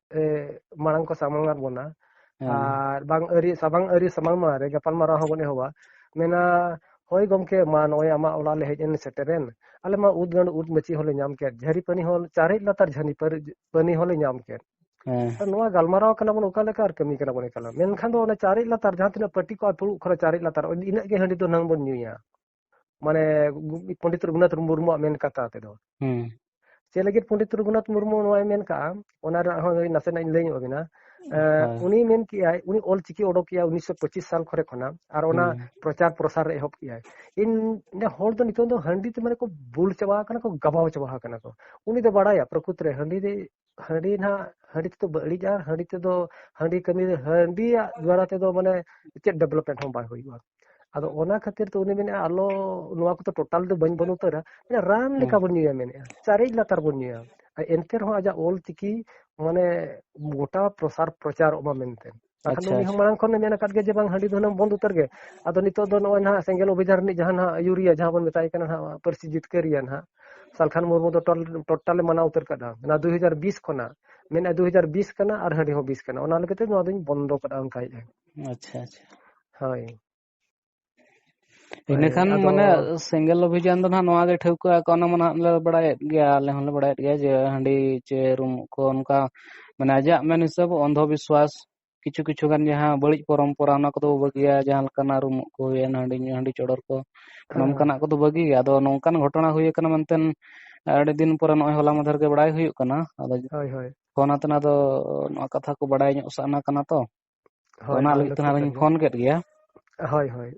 ᱢᱟᱲᱟᱝ ᱠᱚ ᱥᱟᱢᱟᱝ ᱟᱫ ᱵᱚᱱᱟ ᱟᱨ ᱵᱟᱝ ᱟᱹᱨᱤ ᱥᱟᱢᱟᱝ ᱟᱹᱨᱤ ᱥᱟᱢᱟᱝ ᱢᱟᱲᱟᱝ ᱨᱮ ᱜᱟᱯᱟᱞ ᱢᱟᱨᱟᱣ ᱦᱚᱸ ᱵᱚᱱ ᱮᱦᱚᱵᱟ ᱢᱮᱱᱟ ᱦᱳᱭ ᱜᱚᱢᱠᱮ ᱢᱟ ᱱᱚᱜᱼᱚᱭ ᱟᱢᱟᱜ ᱚᱲᱟᱜ ᱞᱮ ᱦᱮᱡ ᱮᱱ ᱥᱮᱴᱮᱨᱮᱱ ᱟᱞᱮ ᱢᱟ ᱩᱫ ᱜᱟᱹᱰ ᱩᱫ ᱢᱟᱹᱪᱤ ᱦᱚᱸᱞᱮ ᱧᱟᱢ ᱠᱮᱫ ᱡᱷᱟᱹᱨᱤ ᱯᱟᱹᱱᱤ ᱦᱚᱸ ᱪᱟᱨᱮᱡ ᱞᱟᱛᱟᱨ ᱡᱷᱟᱹᱱᱤ ᱯᱟᱹᱱᱤ ᱦᱚᱸᱞᱮ ᱧᱟᱢ ᱠᱮᱫ ᱱᱚᱣᱟ ᱜᱟᱞᱢᱟᱨᱟᱣ ᱠᱟᱱᱟ ᱵᱚᱱ ᱚᱠᱟ ᱞᱮᱠᱟ ᱟᱨ ᱠᱟᱹᱢᱤ ᱠᱟᱱᱟ ᱵᱚᱱ ᱮᱠᱟᱞ ᱢᱮᱱᱠᱷᱟᱱ ᱫᱚ ᱚᱱᱟ ᱪᱟᱨᱮᱡ ᱞᱟᱛᱟᱨ ᱡᱟᱦᱟᱸ ᱛᱤᱱᱟᱹᱜ ᱯᱟᱹᱴᱤ ᱠᱚᱜᱼᱟ ᱯᱷᱩᱲᱩᱜ ᱠᱷᱚᱱ ᱪᱟᱨᱮᱡ ᱞᱟᱛᱟᱨ ᱤᱱᱟᱹᱜ ᱜᱮ ᱦᱟᱺᱰᱤ ᱫᱚ ᱱᱟᱝ ᱵᱚᱱ ᱧᱩᱭᱟ ᱢᱟᱱᱮ ᱯᱚᱱᱰᱤᱛ ᱨᱚᱜᱷᱩᱱᱟᱛᱷ ᱢᱩᱨᱢᱩᱣᱟᱜ ᱢᱮᱱ ᱠᱟᱛᱷᱟ ᱛᱮᱫᱚ ᱪᱮᱫ ᱞᱟᱹᱜᱤᱫ ᱯᱚᱱᱰᱤᱛ ᱨᱚᱜᱷᱩᱱᱟᱛᱷ ᱢᱩᱨᱢᱩ ᱱᱚᱣᱟᱭ ᱢᱮᱱ ᱠᱟᱜᱼᱟ ᱚᱱᱟ ᱨᱮᱱᱟᱜ ᱦᱚᱸ ᱱᱟᱥᱮᱱᱟᱜ ᱤᱧ ᱞᱟᱹᱭ ᱧᱚᱜ ᱟᱵᱤᱱᱟ ᱩᱱᱤ ᱢᱮᱱ ᱠᱮᱜᱼᱟᱭ ᱩᱱᱤ ᱚᱞ ᱪᱤᱠᱤ ᱚᱰᱚᱠ ᱠᱮᱜᱼᱟ ᱩᱱᱤᱥᱥᱚ ᱯᱚᱸᱪᱤᱥ ᱥᱟᱞ ᱠᱚᱨᱮ ᱠᱷᱚᱱᱟᱜ ᱟᱨ ᱚᱱᱟ ᱯᱨᱚᱪᱟᱨ ᱯᱨᱚᱥᱟᱨ ᱮᱦᱚᱵ ᱠᱮᱜᱼᱟᱭ ᱤᱧ ᱦᱚᱲ ᱫᱚ ᱱᱤᱛᱚᱝ ᱫᱚ ᱦᱟᱺᱰᱤ ᱛᱮ ᱢᱟᱱᱮ ᱠᱚ ᱵᱩᱞ ᱪᱟᱵᱟ ᱟᱠᱟᱱᱟ ᱠᱚ ᱜᱟᱵᱟᱣ ᱪᱟᱵᱟ ᱟᱠᱟᱱᱟ ᱠᱚ ᱩᱱᱤ ᱫᱚ ᱵᱟᱲᱟᱭᱟ ᱯᱨᱚᱠᱩᱛ ᱨᱮ ᱦᱟᱺᱰᱤ ᱫᱚ ᱦᱟᱺᱰᱤ ᱱᱟᱜ ᱦᱟᱺᱰᱤ ᱛᱮᱫᱚ ᱵᱟᱹᱲᱤᱡ ᱟᱨ ᱦᱟᱺᱰᱤ ᱛᱮᱫᱚ ᱦᱟᱺᱰᱤ ᱠᱟᱹᱢᱤ ᱦᱟᱺᱰᱤᱭᱟᱜ ᱫᱣᱟᱨᱟ ᱛᱮᱫᱚ ᱢᱟᱱᱮ ᱪᱮᱫ ᱰᱮᱵᱷᱞᱚᱯᱢᱮᱱᱴ ᱦᱚᱸ ᱵᱟᱭ ᱦᱩᱭᱩᱜᱼᱟ ᱟᱫᱚ ᱚᱱᱟ ᱠᱷᱟᱹᱛᱤᱨ ᱛᱮ ᱩᱱᱤ ᱢᱮᱱᱮᱫᱼᱟ ᱟᱞᱚ ᱱᱚᱣᱟ ᱠᱚᱫᱚ ᱴᱳᱴᱟᱞ ᱫᱚ ᱵᱟᱹᱧ ᱵᱟᱹᱱᱩᱜ ᱩᱛᱟᱹᱨᱟ ᱨᱟᱱ ᱞᱮᱠᱟ ᱵᱚᱱ ᱧᱩᱭᱟ ᱢᱮᱱᱮᱫᱼᱟ ᱪᱟᱨᱮᱡ ᱞᱟᱛᱟᱨ ᱵᱚᱱ ᱧᱩᱭᱟ ᱮᱱᱛᱮ ᱨᱮᱦᱚᱸ ᱟᱡᱟᱜ ᱚᱞ ᱪᱤᱠᱤ ᱢᱟᱱᱮ ᱜᱚᱴᱟ ᱯᱨᱚᱥᱟᱨ ᱯᱨᱚᱪᱟᱨᱚᱜ ᱢᱟ ᱢᱮᱱᱛᱮ ᱵᱟᱠᱷᱟᱱ ᱟᱪᱪᱷᱟ ᱩᱱᱤ ᱦᱚᱸ ᱟᱪᱪᱷᱟ ᱢᱟᱲᱟᱝ ᱠᱷᱚᱱᱮ ᱢᱮᱱ ᱟᱠᱟᱫ ᱜᱮᱭᱟ ᱡᱮ ᱵᱟᱝ ᱦᱟᱺᱰᱤ ᱫᱚ ᱦᱩᱱᱟᱹᱝ ᱵᱚᱱᱫᱷ ᱩᱛᱟᱹᱨ ᱜᱮ ᱟᱫᱚ ᱱᱤᱛᱚᱜ ᱫᱚ ᱱᱚᱜᱼᱚᱭ ᱱᱟᱦᱟᱜ ᱥᱮᱸᱜᱮᱞ ᱚᱵᱷᱤᱡᱟᱱ ᱨᱤᱱᱤᱡ ᱡᱟᱦᱟᱸ ᱱᱟᱦᱟᱜ ᱟᱹᱭᱩᱨᱤᱭᱟ ᱡᱟᱦᱟᱸ ᱵᱚᱱ ᱢᱮᱛᱟᱭ ᱠᱟᱱᱟ ᱱᱟᱦᱟᱜ ᱯᱟᱹᱨᱥᱤ ᱡᱤᱛᱠᱟᱹᱨᱤᱭᱟ ᱱᱟᱦᱟᱜ ᱥᱟᱞᱠᱷᱟᱱ ᱢᱩᱨᱢᱩ ᱫᱚ ᱴᱳᱴᱟᱞᱮ ᱢᱟᱱᱟᱣ ᱩᱛᱟᱹᱨ ᱠᱟᱫᱟ ᱚᱱᱟ ᱫᱩ ᱦᱟᱡᱟᱨ ᱵᱤᱥ ᱠᱷᱚᱱᱟᱜ ᱢᱮᱱᱮᱫᱼᱟ ᱫᱩ ᱦᱟᱡᱟᱨ ᱵᱤᱥ ᱠᱟᱱᱟ ᱟᱨ ᱦᱟᱺᱰᱤ ᱦᱚᱸ ᱵᱤᱥ ᱠᱟᱱᱟ ᱚᱱᱟ ᱞᱮᱠᱟᱛᱮ ᱱᱚᱣᱟ ᱫᱚᱧ ᱵᱚᱱᱫᱚ ᱠᱟᱫᱟ ᱚᱱᱠᱟᱭᱮᱫᱼᱟ ᱟᱪᱪᱷᱟ ᱟᱪᱪᱷᱟ ᱦᱳᱭ ᱤᱱᱟᱹᱠᱷᱟᱱ ᱢᱟᱱᱮ ᱥᱮᱸᱜᱮᱞ ᱚᱵᱷᱤᱡᱟᱱ ᱫᱚ ᱱᱟᱦᱟᱜ ᱱᱚᱣᱟ ᱜᱮ ᱴᱷᱟᱹᱣᱠᱟᱹ ᱟᱠᱚ ᱚᱱᱟ ᱢᱟ ᱱᱟᱦᱟᱜ ᱞᱮ ᱵᱟᱲᱟᱭᱮᱫ ᱜᱮᱭᱟ ᱟᱞᱮ ᱦᱚᱸᱞᱮ ᱵᱟᱲᱟᱭᱮᱫ ᱜᱮᱭᱟ ᱡᱮ ᱦᱟᱺᱰᱤ ᱪᱮ ᱨᱩᱢ ᱠᱚ ᱚᱱᱠᱟ ᱢᱟᱱᱮ ᱟᱡᱟᱜ ᱢᱮᱱ ᱦᱤᱥᱟᱹᱵ ᱚᱱᱫᱷᱚ ᱵᱤᱥᱣᱟᱥ ᱠᱤᱪᱷᱩ ᱠᱤᱪᱷᱩ ᱜᱟᱱ ᱡᱟᱦᱟᱸ ᱵᱟᱹᱲᱤᱡ ᱯᱚᱨᱚᱢᱯᱚᱨᱟ ᱚᱱᱟ ᱠᱚᱫᱚ ᱵᱟᱹᱜᱤᱭᱟ ᱡᱟᱦᱟᱸ ᱞᱮᱠᱟᱱᱟᱜ ᱨᱩᱢᱩᱜ ᱠᱚ ᱦᱩᱭᱮᱱ ᱦᱟᱺᱰᱤ ᱧᱩ ᱦᱟᱺᱰᱤ ᱪᱚᱰᱚᱨ ᱠᱚ ᱱᱚᱝᱠᱟᱱᱟᱜ ᱠᱚᱫᱚ ᱵᱟᱹᱜᱤ ᱜᱮ ᱟᱫᱚ ᱱᱚᱝᱠᱟᱱ ᱜᱷᱚᱴᱚᱱᱟ ᱦᱩᱭ ᱟᱠᱟᱱᱟ ᱢᱮᱱᱛᱮ ᱟᱹᱰᱤ ᱫᱤᱱ ᱯᱚᱨᱮ ᱱᱚᱜᱼᱚᱭ ᱦᱚᱞᱟ ᱢᱟᱫᱷᱮᱨ ᱜᱮ ᱵᱟᱲᱟᱭ ᱦᱩᱭᱩᱜ ᱠᱟᱱᱟ ᱟᱫᱚ ᱦᱳᱭ ᱦᱳᱭ ᱯᱷᱳᱱ ᱟᱛᱮ ᱱᱟᱫᱚ ᱱᱚᱣᱟ ᱠᱟᱛᱷᱟ ᱠᱚ ᱵᱟᱲᱟᱭ ᱧᱚᱜ ᱥᱟᱱᱟ ᱠᱟᱱᱟ ᱛᱚ ᱦᱳᱭ ᱚᱱᱟ ᱞᱟᱹᱜᱤᱫ ᱫᱚ ᱛᱮ ᱴᱷᱤᱠ ᱠᱟᱱ ᱟᱨᱚᱧ ᱜᱮᱭᱟ ᱯᱷᱳᱱ ᱠᱮᱫ ᱜᱮᱭᱟ ᱦᱳᱭ ᱦᱳᱭ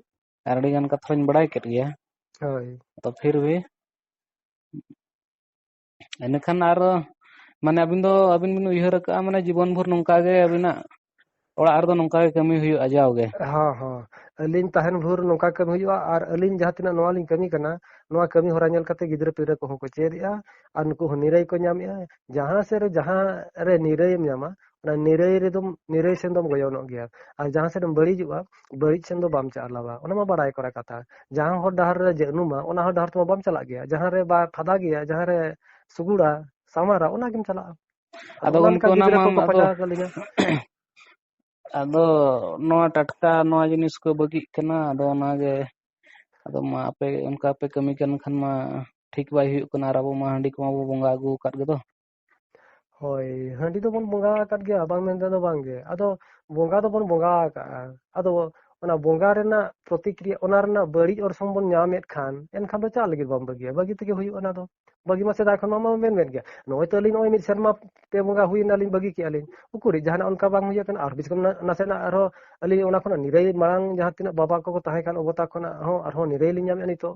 ᱟᱨ ᱟᱹᱰᱤ ᱜᱟᱱ ᱠᱟᱛᱷᱟᱧ ᱵᱟᱲᱟᱭ ᱠᱮᱫ ᱜᱮᱭᱟ ᱦᱳᱭ ᱛᱚ ᱯᱷᱤᱨ ᱵᱷᱤ ᱤᱱᱟᱹᱠᱷᱟᱱ ᱟᱨ ᱢᱟᱱᱮ ᱟᱹᱵᱤᱱ ᱫᱚ ᱟᱹᱵᱤᱱ ᱵᱤᱱ ᱩᱭᱦᱟᱹᱨ ᱠᱟᱜᱼᱟ ᱢᱟᱱᱮ ᱡᱤᱵᱚᱱ ᱵᱷᱳᱨ ᱱᱚᱝᱠᱟ ᱜᱮ ᱟᱹᱵᱤᱱᱟᱜ ᱚᱲᱟᱜ ᱨᱮᱫᱚ ᱱᱚᱝᱠᱟ ᱜᱮ ᱠᱟᱹᱢᱤ ᱦᱩᱭᱩᱜᱼᱟ ᱡᱟᱣ ᱜᱮ ᱦᱚᱸ ᱦᱚᱸ ᱟᱹᱞᱤᱧ ᱛᱟᱦᱮᱱ ᱵᱷᱳᱨ ᱱᱚᱝᱠᱟ ᱠᱟᱹᱢᱤ ᱦᱩᱭᱩᱜᱼᱟ ᱟᱨ ᱟᱹᱞᱤᱧ ᱡᱟᱦᱟᱸ ᱛᱤᱱᱟᱹᱜ ᱱᱚᱣᱟ ᱞᱤᱧ ᱠᱟᱹᱢᱤ ᱠᱟᱱᱟ ᱱᱚᱣᱟ ᱠᱟᱹᱢᱤ ᱦᱚᱨᱟ ᱧᱮᱞ ᱠᱟᱛᱮ ᱜᱤᱫᱽᱨᱟᱹ ᱯᱤᱫᱽᱨᱟᱹ ᱠᱚᱦᱚᱸ ᱠᱚ ᱪᱮᱫᱮᱜᱼᱟ ᱟᱨ ᱱᱩᱠᱩ ᱦᱚᱸ ᱱᱤᱨᱟᱹᱭ ᱠᱚ ᱧᱟᱢᱮᱫᱼᱟ ᱡᱟᱦᱟᱸ ᱥᱮᱫ ᱨᱮ ᱡᱟᱦᱟᱸ ᱨᱮ ᱱᱤᱨᱟᱹᱭᱮᱢ ᱧᱟᱢᱟ ᱚᱱᱟ ᱱᱤᱨᱟᱹᱭ ᱨᱮᱫᱚᱢ ᱱᱤᱨᱟᱹᱭ ᱥᱮᱱ ᱫᱚᱢ ᱜᱚᱭᱚᱱᱚᱜ ᱜᱮᱭᱟ ᱟᱨ ᱡᱟᱦᱟᱸ ᱥᱮᱫ ᱮᱢ ᱵᱟᱹᱲᱤᱡᱚᱜᱼᱟ ᱵᱟᱹᱲᱤᱡ ᱥᱮᱱ ᱫᱚ ᱵᱟᱢ ᱪᱟᱞᱟᱣᱟ ᱚᱱᱟ ᱢᱟ ᱵᱟᱲᱟᱭ ᱠᱚᱨᱟ ᱠᱟᱛᱷᱟ ᱡᱟᱦᱟᱸ ᱦᱚᱨ ᱰᱟᱦᱟᱨ ᱨᱮ ᱡᱟᱹᱱᱩᱢᱟ ᱚᱱᱟ ᱦᱚᱨ ᱰᱟᱦᱟᱨ ᱛᱮᱢᱟ ᱵᱟᱢ ᱪᱟᱞᱟᱜ ᱜᱮᱭᱟ ᱡᱟᱦᱟᱸ ᱨᱮ ᱵᱟ ᱯᱷᱟᱫᱟ ᱜᱮᱭᱟ ᱡᱟᱦᱟᱸ ᱨᱮ ᱥᱩᱜᱩᱲᱟ ᱥᱟᱢᱟᱨᱟ ᱚᱱᱟ ᱜᱮᱢ ᱪᱟᱞᱟᱜᱼᱟ ᱟᱫᱚ ᱚᱱᱟ ᱞᱮᱠᱟ ᱜᱚᱢᱠᱮ ᱚᱱᱟ ᱜᱤᱫᱽᱨᱟᱹ ᱢᱟ ᱠᱚᱠᱚ ᱟᱫᱚ ᱯᱟᱸᱡᱟ ᱟᱠᱟᱫ ᱞᱤᱧᱟ ᱟᱫᱚ ᱱᱚᱣᱟ ᱴᱟᱴᱠᱟ ᱱᱚᱣᱟ ᱡᱤᱱᱤᱥ ᱠᱚ ᱵᱟᱹᱜᱤᱜ ᱠᱟᱱᱟ ᱟᱫᱚ ᱚᱱᱟᱜᱮ ᱟᱫᱚ ᱢᱟ ᱟᱯᱮ ᱚᱱᱠᱟ ᱯᱮ ᱠᱟᱹᱢᱤ ᱠᱟᱱ ᱠᱷᱟᱱ ᱢᱟ ᱴᱷᱤᱠ ᱵᱟᱭ ᱦᱩᱭᱩᱜ ᱠᱟᱱᱟ ᱟᱨ ᱟᱵᱚ ᱢᱟ ᱦᱟᱺᱰᱤ ᱠᱚᱢᱟ ᱵᱚ ᱵᱚᱸᱜᱟ ᱟᱹᱜᱩ ᱟᱠᱟᱫ ᱜᱮᱫᱚ ᱦᱳᱭ ᱦᱟᱺᱰᱤ ᱫᱚᱵᱚᱱ ᱵᱚᱸᱜᱟ ᱟᱠᱟᱫ ᱜᱮᱭᱟ ᱵᱟᱝ ᱢᱮᱱᱛᱮ ᱫᱚ ᱵᱟᱝᱜᱮ ᱟᱫᱚ ᱵᱚᱸᱜᱟ ᱫᱚᱵᱚᱱ ᱵᱚᱸᱜᱟ ᱟᱠᱟᱜᱼᱟ ᱟᱫᱚ ᱚᱱᱟ ᱵᱚᱸᱜᱟ ᱨᱮᱱᱟᱜ ᱯᱨᱚᱛᱤᱠᱨᱤᱭᱟ ᱚᱱᱟ ᱨᱮᱱᱟᱜ ᱵᱟᱹᱲᱤᱡ ᱚᱨᱥᱚᱝ ᱵᱚᱱ ᱧᱟᱢᱮᱫ ᱠᱷᱟᱱ ᱮᱱᱠᱷᱟᱱ ᱫᱚ ᱪᱟᱜ ᱞᱟᱹᱜᱤᱫ ᱵᱟᱢ ᱵᱟᱹᱜᱤᱭᱟ ᱵᱟᱹᱜᱤ ᱛᱮᱜᱮ ᱦᱩᱭᱩᱜᱼᱟ ᱚᱱᱟ ᱫᱚ ᱵᱟᱹᱜᱤ ᱢᱟ ᱥᱮᱫᱟᱭ ᱠᱷᱚᱱ ᱢᱟ ᱢᱮᱱ ᱢᱮᱱ ᱜᱮᱭᱟ ᱱᱚᱜᱼᱚᱭ ᱛᱚ ᱟᱹᱞᱤᱧ ᱱᱚᱜᱼᱚᱭ ᱢᱤᱫ ᱥᱮᱨᱢᱟ ᱯᱮ ᱵᱚᱸᱜᱟ ᱦᱩᱭᱱᱟᱞᱤᱧ ᱵᱟᱹᱜᱤ ᱠᱮᱜᱼᱟ ᱞᱤᱧ ᱩᱠᱩᱨᱤᱡ ᱡᱟᱦᱟᱱᱟᱜ ᱚᱱᱠᱟ ᱵᱟᱝ ᱦᱩᱭ ᱟᱠᱟᱱᱟ ᱟᱨ ᱵᱤᱥ ᱠᱷᱚᱱ ᱱᱟᱥᱮᱱᱟᱜ ᱟᱨᱦᱚᱸ ᱟᱹᱞᱤᱧ ᱚᱱᱟ ᱠᱷᱚᱱᱟᱜ ᱱᱤᱨᱟᱹᱭ ᱢᱟᱲᱟᱝ ᱡᱟᱦᱟᱸ ᱛᱤᱱᱟᱹᱜ ᱵᱟᱵᱟ ᱠᱚᱠᱚ ᱛᱟᱦᱮᱸ ᱠᱟᱱ ᱚᱵᱚᱛᱟ ᱠᱷᱚᱱᱟᱜ ᱦᱚᱸ ᱟᱨᱦᱚᱸ ᱱᱤᱨᱟᱹᱭ ᱞᱤᱧ ᱧᱟᱢᱮᱫᱼᱟ ᱱᱤᱛᱚᱜ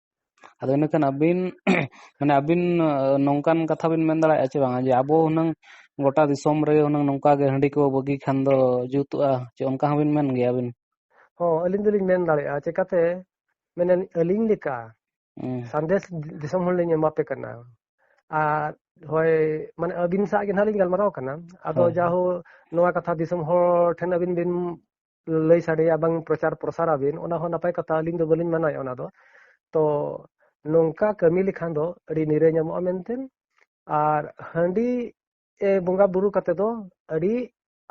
ᱟᱫᱚ ᱤᱱᱟᱹᱠᱷᱟᱱ ᱟᱹᱵᱤᱱ ᱢᱟᱱᱮ ᱟᱹᱵᱤᱱ ᱱᱚᱝᱠᱟᱱ ᱠᱟᱛᱷᱟ ᱵᱤᱱ ᱢᱮᱱ ᱫᱟᱲᱮᱭᱟᱜᱼᱟ ᱪᱮ ᱵᱟᱝᱟ ᱡᱮ ᱟᱵᱚ ᱦᱩᱱᱟᱹᱝ ᱜᱚᱴᱟ ᱫᱤᱥᱚᱢ ᱨᱮ ᱦᱩᱱᱟᱹᱝ ᱱᱚᱝᱠᱟ ᱜᱮ ᱦᱟᱺᱰᱤ ᱠᱚ ᱵᱟᱹᱜᱤ ᱠᱷᱟᱱ ᱫᱚ ᱡᱩᱛᱩᱜᱼᱟ ᱪᱮ ᱚᱱᱠᱟ ᱦᱚᱸᱵᱤᱱ ᱢᱮᱱ ᱜᱮᱭᱟ ᱟᱹᱵᱤᱱ ᱦᱚᱸ ᱟᱹᱞᱤᱧ ᱫᱚᱞᱤᱧ ᱢᱮᱱ ᱫᱟᱲᱮᱭᱟᱜᱼᱟ ᱪᱮᱠᱟᱛᱮ ᱢᱟᱱᱮ ᱟᱹᱞᱤᱧ ᱞᱮᱠᱟ ᱦᱩᱸ ᱥᱟᱸᱫᱮᱥ ᱫᱤᱥᱚᱢ ᱦᱚᱲ ᱞᱤᱧ ᱮᱢᱟᱯᱮ ᱠᱟᱱᱟ ᱟᱨ ᱦᱳᱭ ᱢᱟᱱᱮ ᱟᱹᱵᱤᱱ ᱥᱟᱶ ᱜᱮ ᱱᱟᱦᱟᱜ ᱞᱤᱧ ᱜᱟᱞᱢᱟᱨᱟᱣ ᱠᱟᱱᱟ ᱟᱫᱚ ᱦᱳᱭ ᱦᱳᱭ ᱡᱟᱦᱳ ᱱᱚᱣᱟ ᱠᱟᱛᱷᱟ ᱫᱤᱥᱚᱢ ᱦᱚᱲ ᱴᱷᱮᱱ ᱟᱹᱵᱤᱱ ᱵᱤᱱ ᱞᱟᱹᱭ ᱥᱟᱰᱮᱭᱟ ᱵᱟᱝ ᱯᱨᱚᱪᱟᱨ ᱯᱨᱚᱥᱟᱨ ᱟᱵᱤᱱ ᱚᱱᱟ ᱦᱚᱸ ᱱᱟᱯᱟᱭ ᱠᱟᱛᱷᱟ ᱟᱹᱞᱤᱧ ᱫᱚ ᱵᱟᱹᱞᱤᱧ ᱢᱟᱱᱟᱣᱮᱫ ᱚᱱᱟ ᱫᱚ ᱛᱚ ᱱᱚᱝᱠᱟ ᱠᱟᱹᱢᱤ ᱞᱮᱠᱷᱟᱱ ᱫᱚ ᱟᱹᱰᱤ ᱱᱤᱨᱟᱹᱭ ᱧᱟᱢᱚᱜᱼᱟ ᱢᱮᱱᱛᱮ ᱟᱨ ᱦᱟᱺᱰᱤ ᱵᱚᱸᱜᱟ ᱵᱩᱨᱩ ᱠᱟᱛᱮ ᱫᱚ ᱟᱹᱰᱤ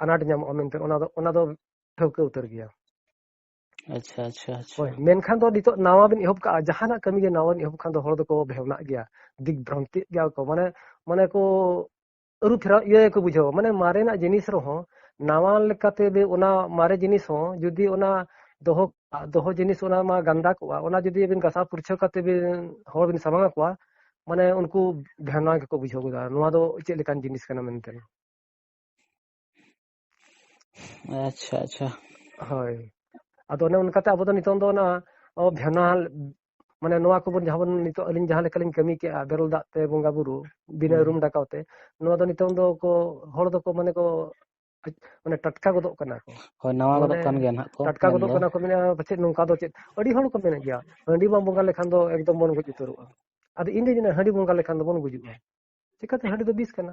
ᱟᱱᱟᱴ ᱧᱟᱢᱚᱜᱼᱟ ᱢᱮᱱᱛᱮ ᱚᱱᱟ ᱫᱚ ᱚᱱᱟ ᱫᱚ ᱴᱷᱟᱹᱣᱠᱟᱹ ᱩᱛᱟᱹᱨ ᱜᱮᱭᱟ ᱟᱪᱪᱷᱟ ᱟᱪᱪᱷᱟ ᱟᱪᱪᱷᱟ ᱦᱳᱭ ᱢᱮᱱᱠᱷᱟᱱ ᱫᱚ ᱱᱤᱛᱚᱜ ᱱᱟᱣᱟ ᱵᱤᱱ ᱮᱦᱚᱵ ᱠᱟᱜᱼᱟ ᱡᱟᱦᱟᱱᱟᱜ ᱠᱟᱹᱢᱤ ᱜᱮ ᱱᱟᱣᱟ ᱵᱤᱱ ᱮᱦᱚᱵ ᱠᱷᱟᱱ ᱫᱚ ᱦᱚᱲ ᱫᱚᱠᱚ ᱵᱷᱮᱣᱱᱟᱜ ᱜᱮᱭᱟ ᱫᱤᱠ ᱵᱷᱨᱟᱱᱛᱤᱜ ᱜᱮᱭᱟ ᱠᱚ ᱢᱟᱱᱮ ᱢᱟᱱᱮ ᱠᱚ ᱟᱹᱨᱩ ᱯᱷᱮᱨᱟᱣ ᱤᱭᱟᱹ ᱜᱮᱠᱚ ᱵᱩᱡᱷᱟᱹᱣᱟ ᱢᱟᱱᱮ ᱢᱟᱨᱮᱱᱟᱜ ᱡᱤᱱᱤᱥ ᱨᱮᱦᱚᱸ ᱱᱟᱣᱟ ᱞᱮᱠᱟᱛᱮ ᱚᱱᱟ ᱢᱟᱨᱮ ᱡᱤᱱᱤᱥ ᱦᱚᱸ ᱡᱩᱫᱤ ᱚᱱᱟ ᱫᱚᱦᱚ ᱫᱚᱦᱚ ᱡᱤᱱᱤᱥ ᱚᱱᱟ ᱢᱟ ᱜᱟᱱᱫᱟ ᱠᱚᱜᱼᱟ ᱚᱱᱟ ᱡᱩᱫᱤ ᱟᱹᱵᱤᱱ ᱜᱟᱥᱟᱣ ᱯᱩᱨᱪᱷᱟᱹ ᱠᱟᱛᱮ ᱵᱤᱱ ᱦᱚᱲ ᱵᱤᱱ ᱥᱟᱢᱟᱝ ᱟᱠᱚᱣᱟ ᱢᱟᱱᱮ ᱩᱱᱠᱩ ᱵᱷᱮᱱᱟ ᱜᱮᱠᱚ ᱵᱩᱡᱷᱟᱹᱣ ᱜᱚᱫᱟ ᱱᱚᱣᱟ ᱫᱚ ᱪᱮᱫ ᱞᱮᱠᱟᱱ ᱡᱤᱱᱤᱥ ᱠᱟᱱᱟ ᱢᱮᱱᱛᱮ ᱟᱪᱪᱷᱟ ᱟᱪᱪᱷᱟ ᱦᱳᱭ ᱟᱫᱚ ᱚᱱᱮ ᱚᱱᱠᱟᱛᱮ ᱟᱵᱚ ᱫᱚ ᱱᱤᱛᱚᱝ ᱫᱚ ᱚᱱᱟ ᱵᱷᱮᱱᱟᱞ ᱢᱟᱱᱮ ᱱᱚᱣᱟ ᱠᱚᱵᱚᱱ ᱡᱟᱦᱟᱸ ᱵᱚᱱ ᱱᱤᱛᱚᱜ ᱟᱹᱞᱤᱧ ᱡᱟᱦᱟᱸ ᱞᱮᱠᱟᱞᱤᱧ ᱠᱟᱹᱢᱤ ᱠᱮᱜᱼᱟ ᱵᱮᱨᱮᱞ ᱫᱟᱜ ᱛᱮ ᱵᱚᱸᱜᱟ ᱵᱩᱨᱩ ᱵᱤᱱᱟᱹ ᱨᱩᱢ ᱰᱟᱠᱟᱣ ᱛᱮ ᱱᱚᱣᱟ ᱫᱚ ᱱᱤᱛᱚᱝ ᱫᱚ ᱠᱚ ᱦᱚᱲ ᱫᱚᱠᱚ ᱢᱟᱱᱮ ᱠᱚ ᱢᱟᱱᱮ ᱴᱟᱴᱠᱟ ᱜᱚᱫᱚᱜ ᱠᱟᱱᱟ ᱠᱚ ᱦᱳᱭ ᱱᱟᱣᱟ ᱜᱚᱫᱚᱜ ᱠᱟᱱ ᱜᱮᱭᱟ ᱱᱟᱦᱟᱜ ᱠᱚ ᱴᱟᱴᱠᱟ ᱜᱚᱫᱚᱜ ᱠᱟᱱᱟ ᱠᱚ ᱢᱮᱱᱟ ᱯᱟᱪᱮᱫ ᱱᱚᱝᱠᱟ ᱫᱚ ᱪᱮᱫ ᱟᱹᱰᱤ ᱦᱚᱲ ᱠᱚ ᱢᱮᱱᱮᱫ ᱜᱮᱭᱟ ᱦᱟᱺᱰᱤ ᱵᱟᱢ ᱵᱚᱸᱜᱟ ᱞᱮᱠᱷᱟᱱ ᱫᱚ ᱮᱠᱫᱚᱢ ᱵᱚᱱ ᱜᱚᱡ ᱩᱛᱟᱹᱨᱚᱜᱼᱟ ᱟᱫᱚ ᱤᱧ ᱫᱚ ᱦᱟᱺᱰᱤ ᱵᱚᱸᱜᱟ ᱞᱮᱠᱷᱟᱱ ᱫᱚᱵᱚᱱ ᱜᱩᱡᱩᱜᱼᱟ ᱪᱤᱠᱟᱹᱛᱮ ᱦᱟᱺᱰᱤ ᱫᱚ ᱵᱤᱥ ᱠᱟᱱᱟ